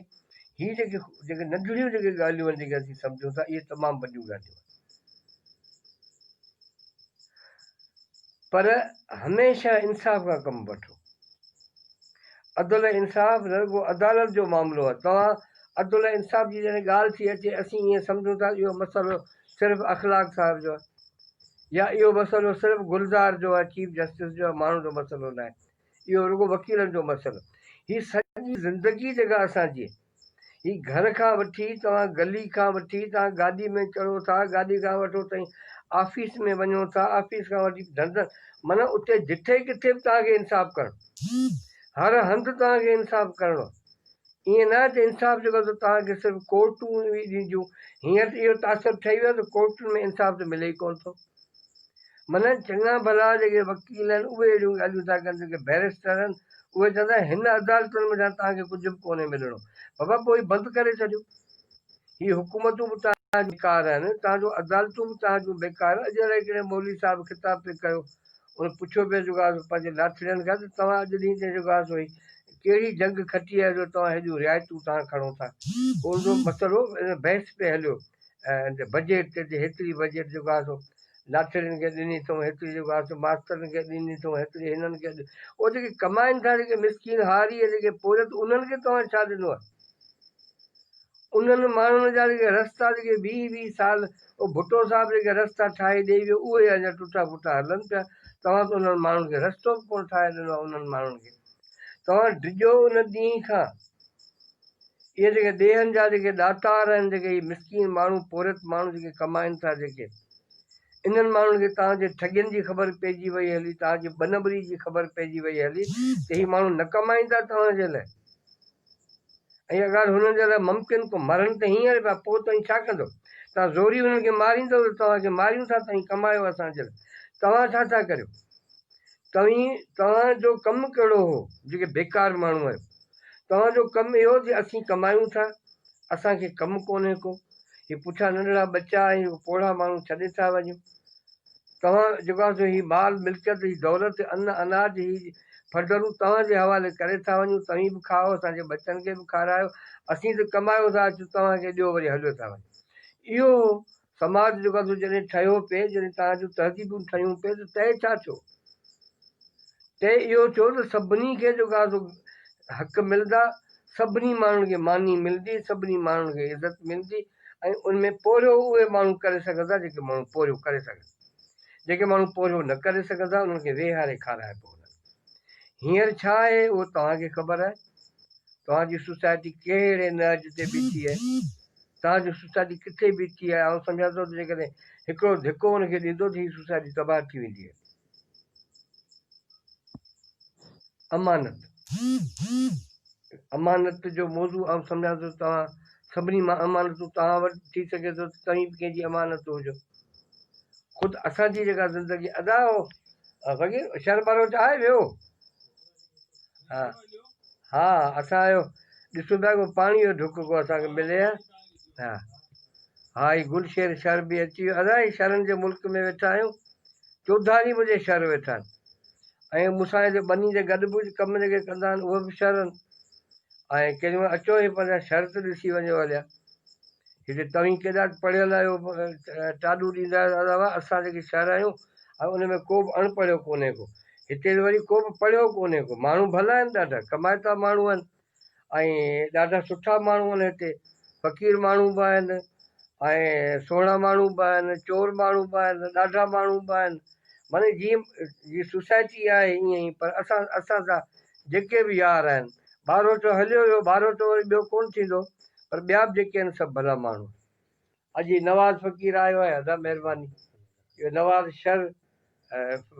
هي جيڪي جيڪي ننڍڙيون جيڪي ڳالهيون آهن جيڪي اسين سمجهون ٿا اهي تمام وڏيون ڳالهيون آهن پر هميشه انصاف کان ڪم وٺو عدل انصاف رڳو عدالت جو معاملو آهي توهان عدل ۽ انصاف جي جڏهن ڳالهه ٿي اچي اسين ائين سمجهون ٿا اهو مسئلو صرف اخلاق صاحب جو آهي يا اهو مسئلو صرف گلزار جو آهي چيف جسٽس جو آهي ماڻهن جو مسئلو ناهي اهو رڳو وڪيلن جو مسئلو هي سڄي زندگي جيڪا اسان جي هي گهر کان وٺي توهان گلي کان وٺي توهان گاڏي ۾ چڙهو ٿا گاڏي کان وٺو تائين آفيس ۾ وڃو ٿا آفيس کان وٺي ڌنڌن معنيٰ اتي جٺي ڪٿي به توهان کي انصاف ڪرڻو هر هنڌ توهان کي انصاف ڪرڻو ائين ناهي ته انصاف جو غزل توهان کي صرف ڪورٽون ئي ڏينديون، هينئر ته اهو تاثر ٺهي ويو آهي ته ڪورٽن ۾ انصاف ته ملي ئي ڪونه ٿو. منهن چڱا ڀلا جيڪي وڪيل آهن اهي اهڙيون ڳالهيون ٿا ڪن، جيڪي بئريسٽر آهن اهي چون ٿا هن عدالتن ۾ توهان کي ڪجهه به ڪونهي ملڻو، بابا پوء هي بند ڪري ڇڏيو. هي حڪومتون به توهان جون بيڪار آهن، توهان جون عدالتون به توهان جون بيڪار آهن، اڄ الائي ڪهڙي مولوي صاحب خطاب پئي ڪيو، هن پڇيو پيس جيڪو آسو پنهنجي ناٿڙين کان ته توهان اڄ ڏينهن تائين جيڪو آسو هي ڪهڙي جنگ کٽي آهي جو توهان هيڏيون رعايتون تان کڻو ٿا. اهڙو مسئلو ان بحث پئي هليو ۽ بجيٽ تي ته هيتري بجيٽ جيڪو آسو ناٿڙين کي ڏني اٿئون هيتري جيڪو آسو ماسترن کي ڏني اٿئون هيتري هنن کي او جيڪي ڪمائين ٿا جيڪي مسڪين هاري جيڪي پورهيت انهن کي توهان ڇا ڏنو آهي. انهن ماڻهن جا جيڪي رستا جيڪي ويهه ويهه سال اهو ڀٽو صاحب جيڪي رستا ٺاهي ڏئي ويو اهي اڃا ٽٽا ڦٽا هلن پيا توهان ته انهن ماڻهن کي رستو به ڪونه ٺاهي ڏنو انهن ماڻهن کي توهان ڊڄو ان ڏينهن کان اهي جيڪي ڏيهن جا جيڪي ڏاتار آهن جيڪي هي مسڪين ماڻهو پورهيت ماڻهو جيڪي ڪمائن ٿا جيڪي انهن ماڻهن کي توهان جي ٺڳين جي خبر پئجي وئي هلي توهان جي ٻنٻري جي خبر پئجي وئي هلي ته هي ماڻهو نه ڪمائيندا توهان جي لاء ۽ اها ڳالهه هنن جي لاء ممڪن ڪو مرن ته هينئر پيا پوء توهين ڇا ڪندؤ؟ توهان زوري هنن کي ماريندؤ ته توهان کي ماريون ٿا توهين ڪمايو اسان جي لاء توهان ڇا ٿا ڪريو؟ توهين توهان جو ڪم ڪهڙو هو جيڪي بيڪار ماڻهو آهيو؟ توهان جو ڪم اهو جي اسين ڪمايون ٿا اسان کي ڪم ڪونهي ڪو هي پٺيان ننڍڙا ٻچا ۽ هو پوڙها ماڻهو ڇڏي ٿا وڃون توهان جيڪا سو هي مال ملڪيت هي دولت ان اناج هي ڦرڊرون توهان جي حوالي ڪري ٿا وڃون توهين به کائو اسان جي ٻچن کي به کارايو اسين ته ڪمايو ٿا اچون توهان کي ڏيو وري هليو ٿا وڃون اهو سماج جيڪا سو جڏهن ٺهيو پئي جڏهن توهان جون تهذيبون ٺهيون پئي ته طئي ڇا ٿيو طئي اهو ٿيو ته سڀني کي جيڪا سو حق ملدا سڀني ماڻهن کي ماني ملدي سڀني ماڻهن کي عزت ملدي ۽ ان ۾ پورهيو اهي ماڻهو ڪري سگهندا جيڪي ماڻهو پورهيو ڪري سگهن جيڪي ماڻهو پورهيو نه ڪري سگهندا انهن کي ويهاري کارائبو هوندا هينئر ڇا آهي اهو توهان کي خبر آهي توهان جي سوسائٽي ڪهڙي نهج تي بيٺي آهي توهان جو سوسائٽي ڪٿي بيٺي آهي آئون سمجهان ٿو ته جيڪڏهن هڪڙو ڌڪو ان کي ڏيندو ته هي سوسائٽي تباهه ٿي ويندي آهي امانت، امانت جو موضوع آئون سمجهان ٿو ته توهان سڀني مان امانتون توهان وٽ ٿي سگهي ٿو ته توهين به ڪنهن جي امانت هجو. خود اسان جي جيڪا زندگي ادا هو فقير شهر بلوچ آهي ويو ها ها اسان آيو ڏسو پيا ڪو پاڻي جو ڍڪ ڪو اسانکي ملي ها ها ها هي گل شير شهر به اچي ويو ادا هي شهرن جي ملڪ ۾ ويٺا آهيون چوڌاري منهنجي شھر ويٺا آھن ۽ مون سان جو ٻني جي گڏ ڪجھ ڪم جيڪي ڪندا آھن اھي به شھر آھن ۽ ڪيڏي مھل اچو ھي پريان شھر ته ڏسي وڃو ھليا ھتي توھين ڪيڏا پڙھيل آھيو ٽاڏو ڏيندا آھيو دادا واھ اسان جيڪي شھر آھيون ۽ ان ۾ ڪوبه اڻ پڙھيو ڪونھي ڪو ھتي ته وري ڪوبه پڙھيو ڪونھي ڪو ماڻھو ڀلا آھن ڏاڍا ڪمائتا ماڻھو آھن. ۽ ڏاڍا سٺا ماڻهو آهن هتي فقير ماڻهو به آهن ۽ سهڻا ماڻهو به آهن چور ماڻهو به آهن ڏاڍا ماڻهو به آهن معني جيئن جي سوسائٽي آهي ائين ئي پر اسان اسان سان جيڪي به يار آهن ٻارهوٽو هليو ويو ٻارهوٽو وري ٻيو ڪونه ٿيندو پر ٻيا به جيڪي آهن سڀ ڀلا ماڻهو آهن اڄ هي نواز فقير آيو آهي ادا مهرباني جو نواز شر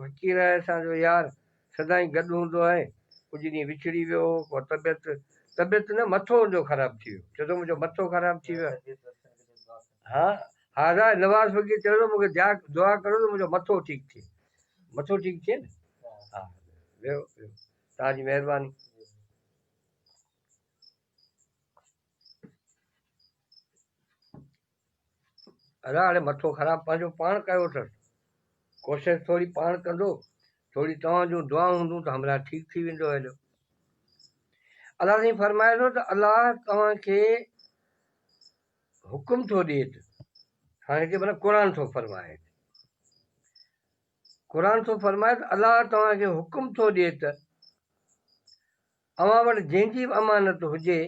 فقير آهي اسان جو يار سدائين گڏ هوندو آهي ڪجهه ڏينهن وڇڙي ويو هو پوء طبيعت طبيعت نه مٿو ان جو خراب ٿي ويو چيو ٿو منهنجو مٿو خراب ٿي ويو آهي ها ها ادا نواز فقير چيو ٿو مونکي دعا دعا ڪرو ته منهنجو مٿو ٺيڪ ٿئي مٿو ٺيڪ ٿئي نه ها ويو ويو تان جي مهرباني ادا هاڻي مٿو خراب پنهنجو پاڻ ڪيو اٿس ڪوشش ٿوري پاڻ ڪندو ٿوري توهان جون دعائون هوندون ته همراهه ٺيڪ ٿي ويندو هليو الله سائين فرمائي ٿو ته الله توهان کي حڪم ٿو ڏي ته هاڻي هتي مطلب قرآن ٿو فرمائي قرآن ٿو فرمائي ته الله توهان کي حڪم ٿو ڏي ته اوهان وٽ جنهن جي به امانت هجي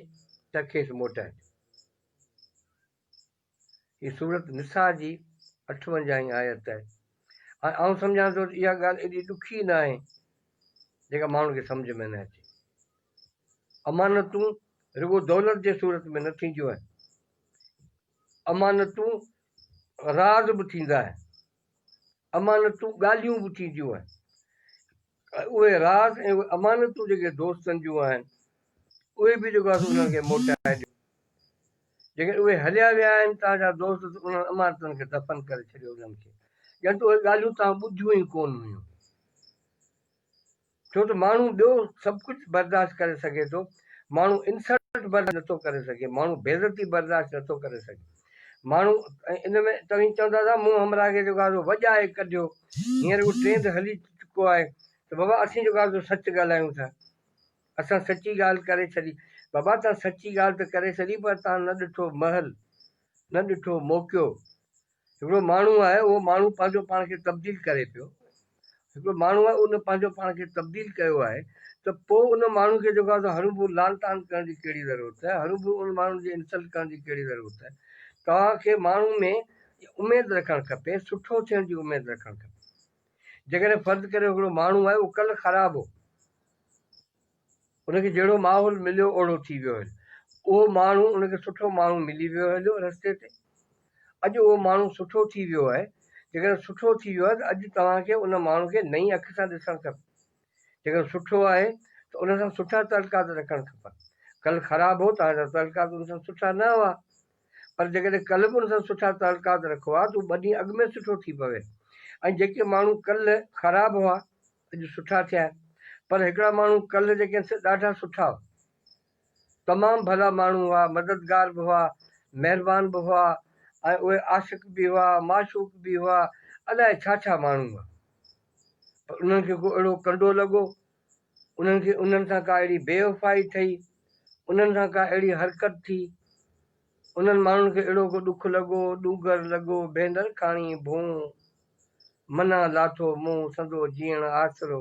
ته کيس موٽائجو. هي سورة نساء جي اٺونجاهين آيت آهي ۽ آئون سمجهان ٿو ته اها ڳالهه ايڏي ڏکي نه آهي جيڪا ماڻهن کي سمجهه ۾ نه اچي. امانتون رڳو دولت جي صورت ۾ نه ٿينديون آهن. امانتون راز به ٿيندا آهن. امانتون ڳالهيون به ٿينديون آهن اهي راز ۽ اهي امانتون جيڪي دوستن جون آهن اهي به جيڪو آهي انهن کي موٽائي ڏيو جيڪڏهن اهي هليا ويا آهن توهان جا دوست ته انهن امانتن کي دفن ڪري ڇڏيو انهن کي ڄڻ ته اهي ڳالهيون توهان ٻڌيون ئي ڪونه هيون. ڇو ته ماڻهو ٻيو سڀ ڪجهه برداشت ڪري سگهي ٿو، ماڻهو انسلٽ برداشت نٿو ڪري سگهي، ماڻهو بيعزتي برداشت نٿو ڪري سگهي. ماڻهو ان ۾ توهين چوندا ته مون همراهه کي جيڪو آزو وڄائي ڪڍيو، هينئر اهو ٽرينڊ هلي چڪو آهي ته بابا اسين جيڪو آزو سچ ڳالهايون ٿا، اسان سچي ڳالهه ڪري ڇڏي. بابا توهان سچي ڳالهه ته ڪري ڇڏي پر توهان نه ڏٺو مهل، نه ڏٺو موقعو، هڪڙو ماڻهو آهي اهو ماڻهو پنهنجو پاڻ کي تبديل ڪري پيو هڪڙو ماڻهو آهي ان پنهنجو پاڻ کي تبديل ڪيو آهي ته پوء ان ماڻهو کي جيڪو آهي سو هرون ڀرون لعن طعن ڪرڻ جي ڪهڙي ضرورت آهي هرون ڀرون ان ماڻهو جي انسلٽ ڪرڻ جي ڪهڙي ضرورت آهي توهان کي ماڻهو ۾ اميد رکڻ کپي سٺو ٿيڻ جي اميد رکڻ کپي جيڪڏهن فرض ڪريو هڪڙو ماڻهو آهي اهو ڪلهه خراب هو. ان کي جهڙو ماحول مليو اوڙو ٿي ويو هليو. اهو ماڻهو ان کي سٺو ماڻهو ملي ويو هليو رستي تي. اڄ اهو ماڻهو سٺو ٿي ويو آهي. جيڪڏهن سٺو ٿي ويو آهي ته اڄ توهان کي ان ماڻهو کي نئين اک سان ڏسڻ کپي. جيڪڏهن سٺو آهي ته ان سان سٺا تعلقات رکڻ کپن. ڪل خراب هو توهان جا تعلقات ان سان سٺا نه هئا. پر جيڪڏهن ڪلهه به ان سان سٺا تعلقات رکو ها ته هو ٻه ڏينهن اڳ ۾ سٺو ٿي پوي ۽ جيڪي ماڻهو ڪلهه خراب هئا اڄ سٺا ٿيا آهن پر هڪڙا ماڻهو ڪلهه جيڪي آهن سي ڏاڍا سٺا هئا تمام ڀلا ماڻهو هئا مددگار به هئا مهربان به هئا ۽ اهي عاشق به هئا معشوق به هئا الائي ڇا ڇا ماڻهو هئا پر انهن کي ڪو اهڙو ڪنڊو لڳو انهن کي انهن سان ڪا اهڙي بيوفائي ٿئي، انهن سان ڪا اهڙي حرڪت ٿي، انهن ماڻهن کي اهڙو ڪو ڏک لڳو، ڏوگر لڳو، ڀيندر ڪاڻي ڀونء منا لاٿو منهن سندو جيئڻ آسرو،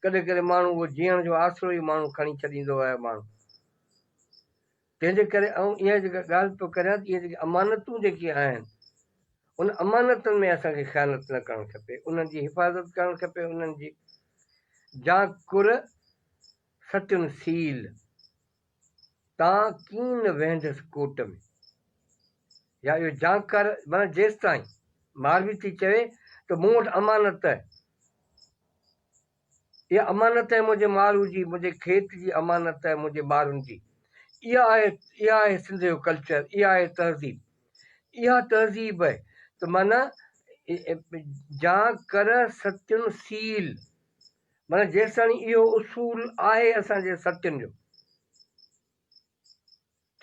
ڪڏهن ڪڏهن ماڻهو اهو جيئڻ جو آسرو ئي ماڻهو کڻي ڇڏيندو آهي، ماڻهو. تنهنجي ڪري آئون اها جيڪا ڳالهه پيو ڪريان ته اهي جيڪي امانتون جيڪي آهن ان امانتن ۾ اسان کي خيانت نه ڪرڻ کپي انهن جي حفاظت ڪرڻ کپي انهن جي جان ڪر سچن سيل تان ڪين ويهندس ڪوٽ ۾ يا اهو جان ڪر معنيٰ جيستائين ماروي ٿي چوي ته مون وٽ امانت اها امانت آهي منهنجي مارو جي، منهنجي کيت جي امانت آهي منهنجي ٻارن جي. اها آهي، اها آهي سنڌ جو ڪلچر، اها آهي تهذيب. اها تهذيب آهي ته معنيٰ جان ڪر ستين سيل، معنيٰ جيستاڻي اهو اصول آهي اسان جي ستين جو.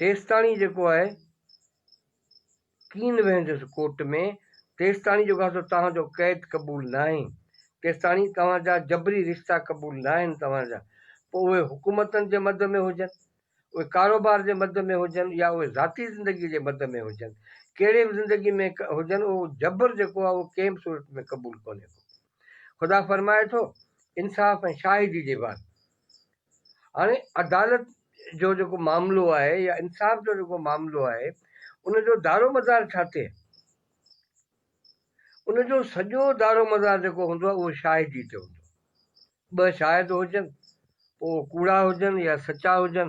تيستاڻي جيڪو آء ڪين ويهندس ڪورٽ ۾، تيستاڻي جيڪو آء سو توهان جو قيد قبول ناهي، تيستاڻي توهان جا جبري رشتا قبول ناهن توهان جا، پوء اهي حڪومتن جي مد ۾ هجن، اهي ڪاروبار جي مد ۾ هجن يا اهي ذاتي زندگيء جي مد ۾ هجن، ڪهڙي به زندگيء ۾ هجن اهو جبر جيڪو آء اهو ڪنهن به صورت ۾ قبول ڪونهي ڪو. خدا فرمائي ٿو، انصاف ۽ شاهدي جي بعد هاڻي عدالت جو جيڪو معاملو آهي يا انصاف جو جيڪو معاملو آهي ان جو دارومدار ڇا ٿئي؟ ان جو سڄو دارومدار جيڪو هوندو آهي اهو شاهدي تي هوندو آهي. ٻه شاهد هجن پوء اهو ڪوڙا هجن يا سچا هجن.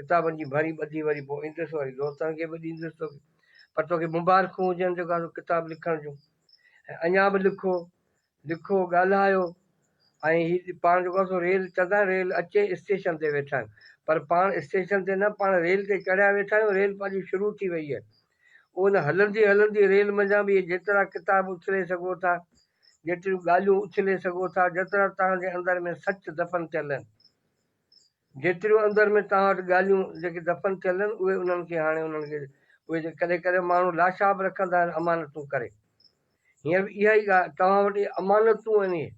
ڪتابن جي ڀري ٻڌي وري پوء ايندس وري دوستن کي به ڏيندس توکي پر توکي مبارڪون هجن جيڪا تو ڪتاب لکڻ جون ۽ اڃا به لکو لکو ڳالهايو ۽ هي پاڻ جيڪو سو ريل چوندا آهن ريل اچي اسٽيشن تي ويٺا آهيون پر پاڻ اسٽيشن تي نه پاڻ ريل تي چڙهيا ويٺا آهيون ريل پنهنجي شروع ٿي وئي آهي ان هلندي هلندي ريل منجهان به جيترا ڪتاب اڇلي سگهو ٿا جيتريون ڳالهيون اڇلي سگهو ٿا جيترا توهان جي اندر ۾ سچ دفن ٿيل آهن جيتريون اندر ۾ توهان وٽ ڳالهيون جيڪي دفن ٿيل آهن اهي انهن کي هاڻي انهن کي اهي جي ڪڏهن ڪڏهن ماڻهو لاشا به رکندا آهن امانتون ڪري هينئر به اها ئي ڳالهه توهان وٽ اهي امانتون آهن اهي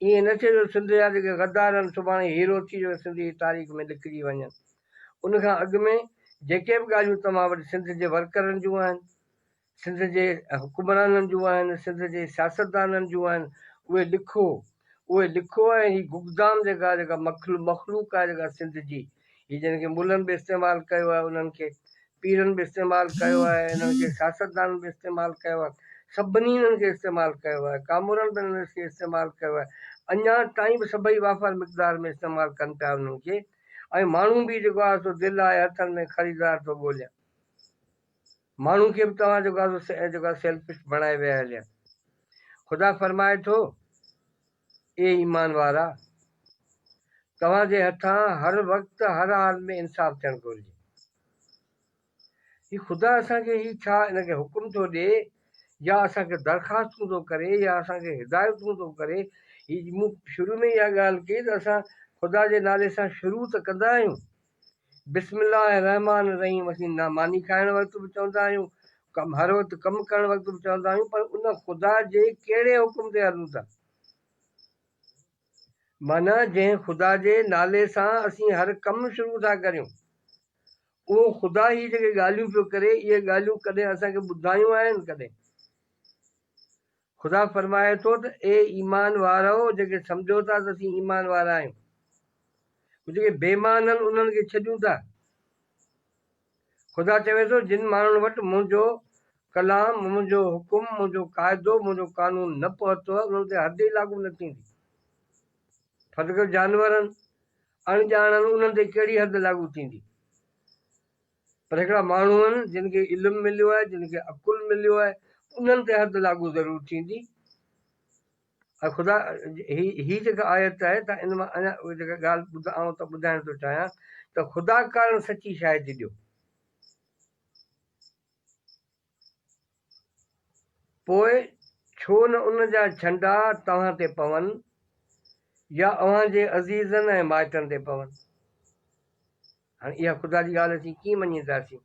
ائين نه ٿئي جو سنڌ جا جيڪي غدار آهن سڀاڻي هيرو ٿي جو سنڌ جي تاريخ ۾ لکجي وڃن ان کان اڳ ۾ جيڪي به ڳالهيون توهان وٽ سنڌ جي ورڪرن جون آهن. سنڌ جي حڪمرانن جون آهن، سنڌ جي سياستدانن جون آهن، اهي لکو، اهي لکو ۽ هي گگدام جيڪا جيڪا مخلوق آهي جيڪا سنڌ جي، هي جن کي ملن به استعمال ڪيو آهي، انهن کي پيرن به استعمال ڪيو آهي، انهن کي سياستدانن به استعمال ڪيو آهي، سڀني انهن کي استعمال ڪيو آهي، ڪامورن به انهن کي استعمال ڪيو آهي، اڃا تائين به سڀئي وافر مقدار ۾ استعمال ڪن پيا انهن کي ۽ ماڻهو به جيڪو آهي سو دل آهي هٿن ۾ خريدار ٿو ڳولين. ماڻهن کي به توهان جوڳا جوڳا سيلفش بڻائي ويا هليا. خدا فرمائي ٿو، اي ايمان وارا! توهان جي هٿان هر وقت هر حال ۾ انصاف ٿيڻ گهرجي. هي خدا اسان کي هي ڇا ان کي حڪم ٿو ڏئي يا اسان کي درخواستون ٿو ڪري يا اسان کي هدايتون ٿو ڪري. هي مون شروع ۾ ئي اها ڳالهه ڪئي ته اسان خدا جي نالي سان شروع ته ڪندا آهيون. بسم الله الرحمٰن الرحيم اسين نه ماني کائڻ وقت به چوندا آهيون ڪم هر وقت ڪم ڪرڻ وقت به چوندا آهيون پر ان خدا جي ڪهڙي حڪم تي هلون ٿا معنيٰ جنهن خدا جي نالي سان اسين هر ڪم شروع ٿا ڪريون اهو خدا هي جيڪي ڳالهيون پيو ڪري اهي ڳالهيون ڪڏهن اسان کي ٻڌايون آهن ڪڏهن خدا فرمائي ٿو ته اي ايمان وارؤ! جيڪي سمجهو ٿا ته اسين ايمان وارا آهيون، پوء جيڪي بي ايمان آهن انهن کي ڇڏيون ٿا. خدا چوي ٿو، جن ماڻهن وٽ منهنجو ڪلام، منهنجو حڪم، منهنجو قاعدو، منهنجو قانون نه پهتو انهن تي حد ئي لاڳو نه ٿيندي. ڦرد ڪري جانورن، اڻڄاڻن انهن تي ڪهڙي حد لاڳو ٿيندي؟ پر هڪڙا ماڻهو آهن جن کي علم مليو آهي جن کي عقل مليو آهي انهن تي حد لاڳو ضرور ٿيندي ۽ خدا هي هي جيڪا آيت آهي ته ان مان اڃا اهي جيڪا ڳالهه ٻڌا آئون ته ٻڌائڻ ٿو چاهيان ته خدا ڪارڻ سچي شاهدي ڏيو پوء ڇو نه ان جا ڇنڊا توهان تي پون يا اوهان جي عزيزن ۽ مائٽن تي پون. هاڻي اها خدا جي ڳالهه اسين ڪيئن مڃينداسين؟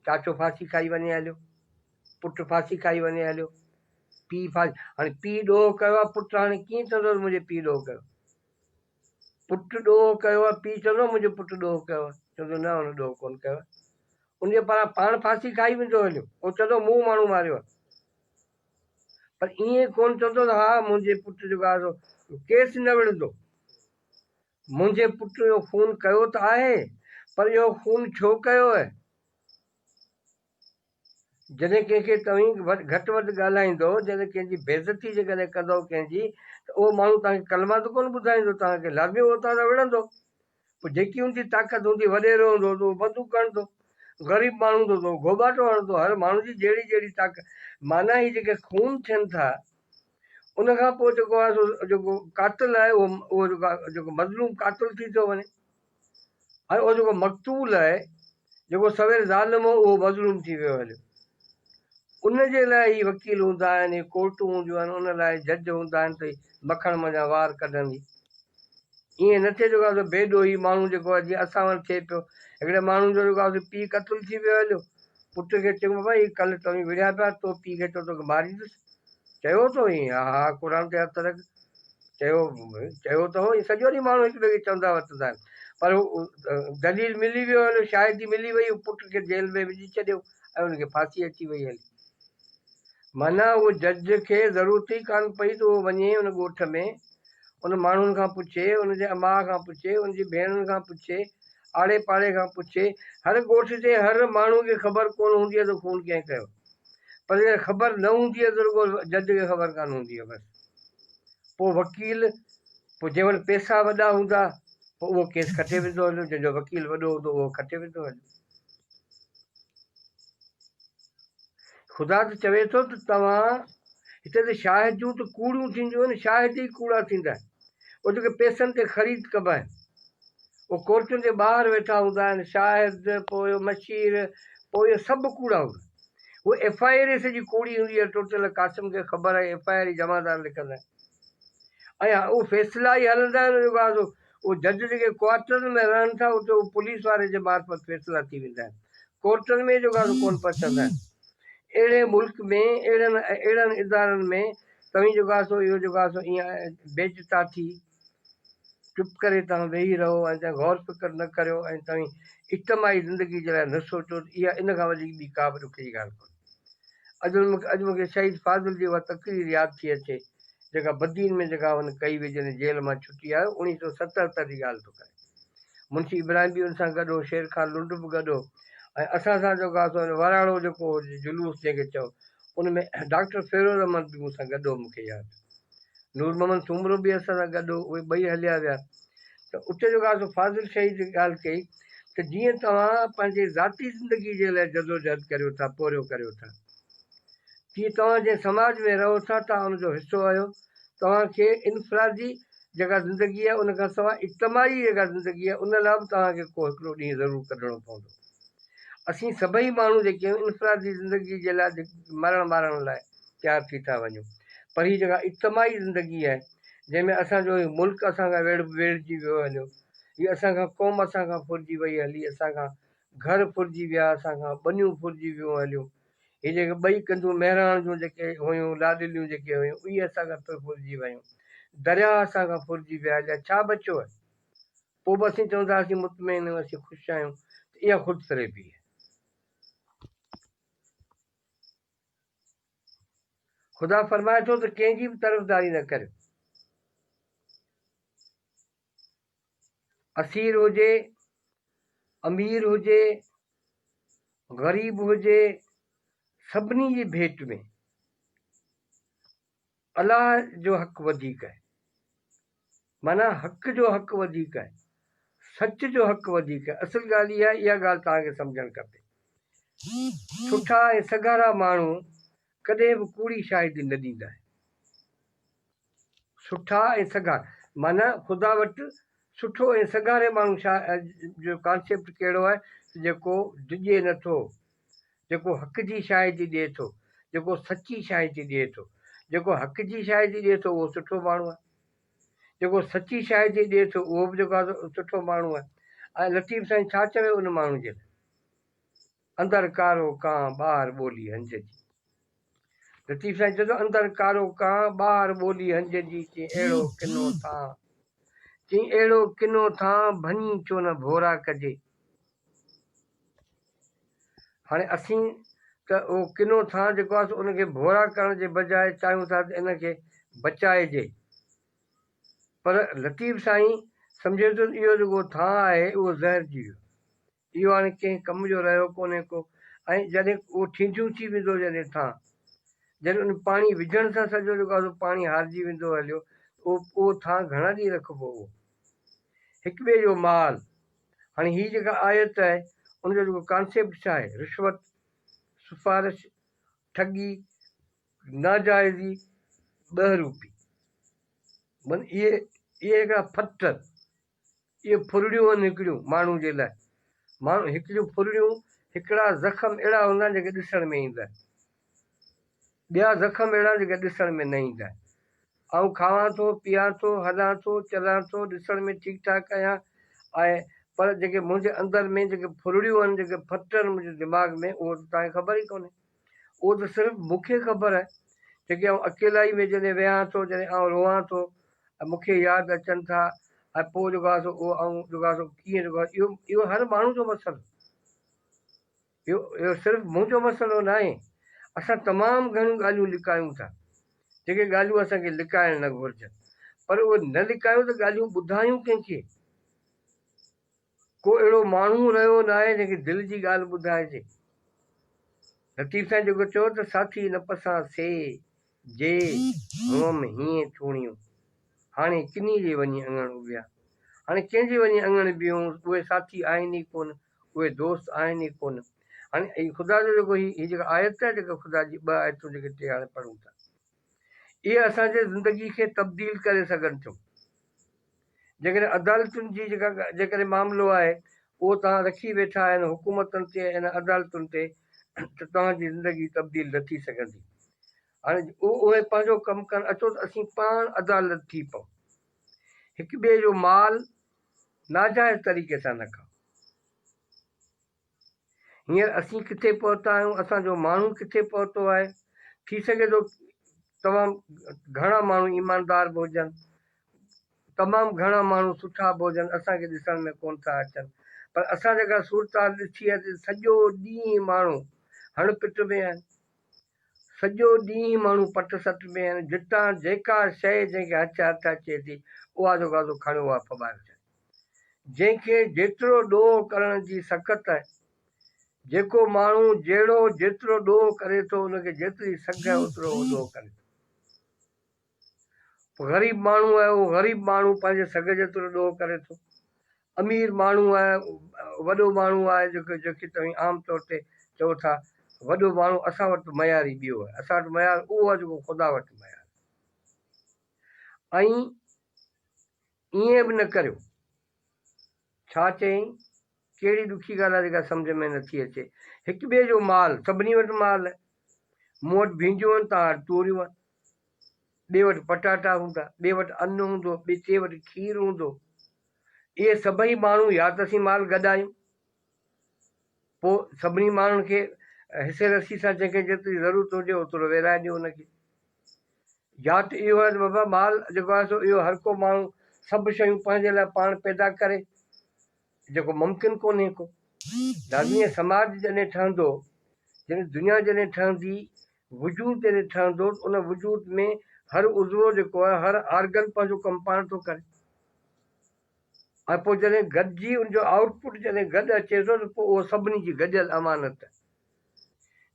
چاچو ڦاسي کائي وڃي هليو، پٽ ڦاسي کائي وڃي هليو، پيء ڦاسي هاڻي پيء ڏوهه ڪيو آهي، پٽ هاڻي ڪيئن چوندو ته منهنجي پيء ڏوهه ڪيو؟ پٽ ڏوهه ڪيو آهي، پيء چوندو آهي منهنجو پٽ ڏوهه ڪيو آهي، چوندو نه هن ڏوهه ڪونه ڪيو آهي، ان جي پاران پاڻ ڦاسي کائي ويندو هليو، پوء چوندو مون ماڻهو ماريو آهي، پر ائين ڪونه چوندو ته ها منهنجي پٽ جيڪو آهي سو ڪيس نه وڙهندو، منهنجي پٽ اهو خون ڪيو ته آهي، پر اهو خون ڇو ڪيو آهي؟ جڏهن ڪنهن کي توهين گهٽ وڌ ڳالهائيندؤ، جڏهن ڪنهن جي بيعزتي جيڪڏهن ڪندؤ ڪنهن جي ته اهو ماڻهو توهان کي ڪلما ته ڪونه ٻڌائيندو، توهان کي لازمي اهو تان تان وڙهندو. پوء جيڪي ان جي طاقت هوندي، وڏيرو هوندو ته اهو بندوق هڻندو، غريب ماڻهو هوندو ته اهو گهوٻاٽو هڻندو، هر ماڻهو جي جهڙي جهڙي طاقت معنيٰ هي جيڪي خون ٿين ٿا ان کان پوء جيڪو آهي سو جيڪو قاتل آهي اهو اهو جيڪو مظلوم قاتل ٿي ٿو وڃي. اهو جيڪو مقتول آهي، جيڪو سوير ظالم هو، اهو مظلوم ٿي ويو هليو. ان جي لاء هي وڪيل هوندا آهن، هي ڪورٽون هونديون آهن، ان لاء جج هوندا آهن ته هي مکڻ منجهان وار ڪڍندي. ائين نه ٿئي جيڪو سو بي ڏوهي ماڻهو جيڪو آهي جيئن اسان وٽ ٿئي پيو. هڪڙي ماڻهو جو جيڪو سو پيء قتل ٿي ويو هليو. پٽ کي چيو بابا هي ڪل توهين وڙهيا پيا، تو پيء کي چئو توکي ماريندس. چيو اٿو ائين؟ ها ها قرآن تي هٿ رک. چيو چيو ته هو ائين سڄو ڏينهن ماڻهو هڪ ٻئي کي چوندا وتندا آهن پر هو دليل ملي ويو هليو شاهدي ملي وئي هو پٽ کي جيل ۾ وجهي ڇڏيو ۽ ان کي ڦاسي اچي وئي هلي معنيٰ اهو جج کي ضرورت ئي ڪانه پئي ته اهو وڃي ان ڳوٺ ۾ ان ماڻهن کان پڇي ان جي اماء کان پڇي ان جي ڀيڻن کان پڇي آڙي پاڙي کان پڇي هر ڳوٺ جي هر ماڻهو کي خبر ڪونه هوندي آهي ته خون ڪنهن ڪيو پر خبر نه هوندي آهي ته رڳو جج کي خبر ڪانه هوندي آهي بس پوء وڪيل، پوء جنهن وٽ پئسا وڏا هوندا، پوء اهو ڪيس کٽي ويندو هليو، جنهن جو وڪيل وڏو هوندو، اهو کٽي ويندو هليو. خدا ته چوي ٿو ته توهان هتي ته شاهديون ته ڪوڙيون ٿينديون آهن، شاهد ئي ڪوڙا ٿيندا آهن. اهو جيڪي پئسن تي خريد ڪبا آهن، اهو ڪورٽن جي ٻاهر ويٺا هوندا آهن، شاهد، پوء مشير، پوء اهي سڀ ڪوڙا هوندا. هو ايف آء ري سڄي ڪوڙي هوندي آهي ٽوٽل قاسم کي خبر آهي ايف آء ري جمعدار لکندا آهن ۽ اهو فيصلا ئي هلندا آهن ان بعد اهو جج جيڪي ڪوارٽرن ۾ رهن ٿا اتي اهو پوليس واري جي معرفت فيصلا ٿي ويندا آهن ڪورٽن ۾ جو ڳالهه ڪون پهچندا آهن اهڙي ملڪ ۾ اهڙن اهڙن ادارن ۾ توهين جو ڳاسو اهو جو ڳاسو ايئن بيج تاٿي چپ ڪري توهان ويهي رهو ۽ توهين غور فڪر نه ڪريو ۽ توهين اجتماعي زندگي جي لاء نه سوچو ته اها ان کان وڌيڪ ٻي ڪا به ڏکيء جي ڳالهه ڪونهي. اڄ مون کي شهيد فاضل جي اها تقرير ياد ٿي اچي، جيڪا بدين ۾ جيڪا هن ڪئي هئي جڏهن جيل مان ڇٽي آيو، اڻيهه سؤ ستهتر جي ڳالهه ٿو ڪري. منشي ابراهيم به ان سان گڏ هو، شير خان لنڊ به گڏ هو ۽ اسان سان جيڪو هئا سو هن وراڻو جيڪو هو جلوس جنهن کي چئو ان ۾ ڊاڪٽر فيروز احمد به مون سان گڏ هو مون کي ياد نور محمد سومرو به اسان سان گڏ هو، اهي ٻئي هليا ويا ته اتي جيڪو آسو فاضل شهيد جي ڳالهه ڪئي ته جيئن توهان پنهنجي ذاتي زندگي جي لاء جدوجهد ڪريو ٿا، پورهيو ڪريو ٿا، تيئن توهان جنهن سماج ۾ رهو ٿا، توهان ان جو حصو آهيو، توهان کي انفرادي جيڪا زندگي آهي، ان کان سواء اجتماعي جيڪا زندگي آهي، ان لاء به توهان کي ڪو هڪڙو ڏينهن ضرور ڪڍڻو پوندو. اسين سڀئي ماڻهو جيڪي آهيون، انفرادي زندگي جي لاء مرڻ مارڻ لاء. تيار ٿي ٿا وڃون پر هي جيڪا اجتماعي زندگي آهي جنهن ۾ اسان جو هي ملڪ اسان کان ويڙهجي ويو هليو هي اسان کان قوم اسان کان ڦرجي وئي هلي اسان کان گهر ڦرجي ويا اسان کان ٻنيون ڦرجي ويون هليون هي جيڪي ٻئي ڪنڌون مهراڻ جون جيڪي هيون لاڏليون جيڪي هيون اهي اسان کان پڻ ڦرجي ويون درياهه اسان کان ڦرجي ويا جا ڇا بچيو آهي پوء به اسين چون ٿا اسين مطمئن آهيون اسين خوش آهيون ته اها خود فريبي آهي خدا فرمائي ٿو ته ڪنهن جي به طرفداري نه ڪريو. اسير هجي، امير هجي، غريب هجي، سڀني جي ڀيٽ ۾. الله جو حق وڌيڪ آهي معنيٰ حق جو حق وڌيڪ آهي سچ جو حق وڌيڪ آهي اصل ڳالهه اها اها ڳالهه توهان کي سمجهڻ کپي سٺا ۽ سگهارا ماڻهو ڪڏهن به ڪوڙي شاهدي نه ڏيندا آهن سٺا ۽ سگهارا معنيٰ خدا وٽ سٺو ۽ سگهاري ماڻهو شا جو ڪانسيپٽ ڪهڙو آهي جيڪو ڊڄي نٿو جيڪو حق جي شاهدي ڏئي ٿو، جيڪو سچي شاهدي ڏئي ٿو. جيڪو حق جي شاهدي ڏئي ٿو اهو سٺو ماڻهو آهي. جيڪو سچي شاهدي ڏئي ٿو اهو به جيڪو آهي سٺو ماڻهو آهي. ۽ لطيف سائين ڇا چوي ان ماڻهو جي لاء. اندر ڪارو ڪانء ٻاهر ٻولي هنج جي. لطيف سائين چيو ٿو اندر ڪارو ڪان، ٻاهر ٻولي هنج جي چين اهڙو ڪنو ٿان، چين اهڙو ڪنو ٿان، ڀڃي ڇو نه ڀورا ڪجي. هاڻي اسين ته اهو ڪنو ٿان جيڪو آهي ان کي ڀورا ڪرڻ جي بجاء چاهيون ٿا ته ان کي بچائجي. پر لطيف سائين سمجهي ٿو ته اهو جيڪو ٿان آهي اهو زهر جي ويو. اهو هاڻي ڪنهن ڪم جو رهيو ڪونهي ڪو ۽ جڏهن اهو ٺينڍيون ٿي ويندو جڏهن ٿان جڏهن ان پاڻي وجهڻ سان سڄو جيڪو آهي سو پاڻي هارجي ويندو هليو ته اهو اهو ٿان گهڻا ڏينهن رکبو اهو هڪ ٻئي جو مال هاڻي هي جيڪا آيت آهي ان جو جيڪو ڪانسيپٽ ڇا آهي رشوت سفارش ٺڳي ناجائزي ٻه روپي من اهي اهي هڪڙا ڦٽ اهي ڦرڙيون هن هڪڙيون ماڻهو جي لئه ماڻهو هڪڙيون ڦرڙيون هڪڙا زخم اهڙا هوندا آهن جيڪي ڏسڻ ۾ ايندا آهن ٻيا زخم اهڙا آهن جيڪي ڏسڻ ۾ نه ايندا آهن آئون کاوان ٿو پيئان ٿو هلان ٿو چلان ٿو ڏسڻ ۾ ٺيڪ ٺاڪ آهيان آهي پر جيڪي منهنجي اندر ۾ جيڪي ڦرڙيون آهن جيڪي ڦٽن منهنجي دماغ ۾ اهو ته توهان کي خبر ئي ڪونهي. اهو ته صرف مون کي خبر آهي، جيڪي آئون اڪيلائي ۾ جڏهن ويهان ٿو، جڏهن آئون روئان ٿو ۽ مون کي ياد اچن ٿا ۽ پوء رڳو آسو اهو آئون رڳو آسو ڪيئن رڳو آسو اهو اهو هر ماڻهو جو مسئلو اهو اهو صرف مون جو مسئلو ناهي اسان تمام گهڻيون ڳالهيون لڪايون ٿا جيڪي ڳالهيون اسان کي لڪائڻ نه گهرجن پر اهي نه لڪايون ته ڳالهيون ٻڌايون ڪنهن کي؟ ڪو اهڙو ماڻهو رهيو ناهي جنهن کي دل جي ڳالهه ٻڌائجي. لطيف سائين جيڪو چيو ته ساٿي نه پسان سي جي هئم هيئن ٿوڻيون. هاڻي ڪنهي جي وڃي اڱڻ اڀيا. هاڻي ڪنهن جي وڃي اڱڻ بيهون اهي ساٿي آهن ئي ڪونه اهي دوست آهن ئي ڪونه. هاڻي خدا جو جيڪو هي جيڪا آيت آهي جيڪا خدا جي ٻه آيتون جيڪي ٽي هاڻي پڙهون ٿا. اهي اسان جي زندگي کي تبديل ڪري سگهن ٿيون جيڪڏهن عدالتن جي جيڪا جيڪڏهن معاملو آهي اهو توهان رکي ويٺا آهن حڪومتن تي ۽ عدالتن تي ته توهان جي زندگي تبديل نه ٿي سگهندي هاڻي اهي پنهنجو ڪم ڪن اچو ته اسين پاڻ عدالت ٿي پئون هڪ ٻئي جو مال ناجائز طريقي سان نه کائون. هينئر اسين ڪٿي پهتا آهيون، اسان جو ماڻهو ڪٿي پهتو آهي. ٿي سگهي ٿو توهان گهڻا ماڻهو ايماندار به هجن، تمام گهڻا ماڻهو سٺا به هجن، اسان کي ڏسڻ ۾ ڪونه ٿا اچن، پر اسان جيڪا صورتحال ڏٺي آهي ته سڄو ڏينهن ماڻهو هڻ پٽ ۾ آهن، سڄو ڏينهن ماڻهو پٽ سٽ ۾ آهن، جتان جيڪا شيء جنهن کي هچ هٿ اچي ٿي، اها جو گازو کڻيو اها ڦٻائي وجهن. جنهن کي جيترو ڏوهه ڪرڻ جي سکت آهي. جيڪو ماڻهو جهڙو جيترو ڏوهه ڪري ٿو ان کي جيتري سگهه آهي اوترو هو ڏوهه ڪري ٿو. پوء غريب ماڻهو آهي اهو غريب ماڻهو پنهنجي سگهه جيترو ڏوهه ڪري ٿو. امير ماڻهو آهي وڏو ماڻهو آهي جيڪو جيڪي توهين عام طور تي چئو ٿا وڏو ماڻهو اسان وٽ ته معيار ئي ٻيو آهي اسان وٽ معيار اهو آهي جيڪو خدا وٽ معيار آهي ۽ ائين به نه ڪريو. ڇا چئين؟ ڪهڙي ڏکي ڳالهه آهي جيڪا سمجهه ۾ نه ٿي اچي. هڪ ٻئي جو مال، سڀني وٽ مال آهي. مون وٽ ڀينڊيون آهن، توهان وٽ توريون آهن. ٻئي وٽ پٽاٽا هوندا، ٻئي وٽ ان هوندو، ٻئي وٽ کير هوندو. اهي سڀئي ماڻهو يا ته اسين مال گڏايون. پوء سڀني ماڻهن کي حصي رسي سان جنهن کي جيتري ضرورت هجي اوترو ويرائي ڏيو ان کي. يا ته اهو آهي ته بابا مال جيڪو آهي سو اهو هر ڪو ماڻهو سڀ شيون پنهنجي لاء پاڻ پيدا ڪري جيڪو ممڪن ڪونهي ڪو. لازمي آهي سماج جڏهن ٺهندو يعني دنيا جڏهن ٺهندي وجود جڏهن ٺهندو ته ان وجود ۾ هر عضوو جيڪو آهي هر آرگن پنهنجو ڪم پاڻ ٿو ڪري. ۽ پوء جڏهن گڏجي ان جو آئوٽ پٽ جڏهن گڏ اچي ٿو ته پوء اهو سڀني جي گڏيل امانت آهي.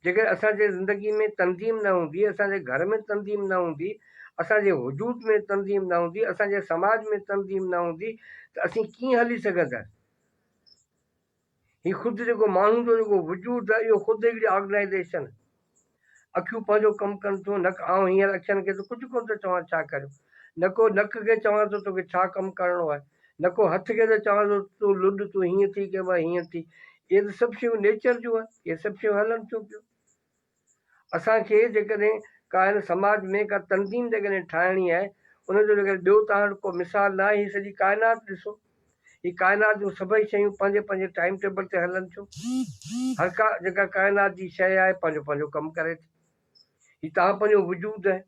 جيڪڏهن اسان جي زندگي ۾ تنظيم نه هوندي، اسان جي گهر ۾ تنظيم نه هوندي، اسان جي وجود ۾ تنظيم نه هوندي، اسان جي سماج ۾ تنظيم نه هوندي ته اسين ڪيئن هلي سگهنداسين؟ هي خود جيڪو ماڻهو جو جيڪو وجود آهي اهو خود هڪڙي آرگنائيزيشن آهي. اکيون پنهنجو ڪم ڪن ٿيون نڪ آئون هينئر اکين کي ته ڪجهه ڪونه ٿو چوان ڇا ڪريون نڪو نڪ کي چوان ٿو توکي ڇا ڪم ڪرڻو آهي نڪو هٿ کي ته چوان ٿو تون لڏ تون هينئر ٿي ڪبا هينئر ٿي اهي ته سڀ شيون نيچر جون آهن اهي سڀ شيون هلن ٿيون پيون. اسان کي جيڪڏهن ڪا هن سماج ۾ ڪا تنظيم جيڪڏهن ٺاهڻي آهي ان جو جيڪڏهن ٻيو توهان وٽ ڪو مثال نه آهي هي سڄي ڪائنات ڏسو هي ڪائنات جون سڀئي شيون پنهنجي پنهنجي ٽائيم ٽيبل تي هلن ٿيون هر ڪا جيڪا ڪائنات جي شيء آهي پنهنجو پنهنجو ڪم ڪري ٿي هي توهان پنهنجو وجود آهي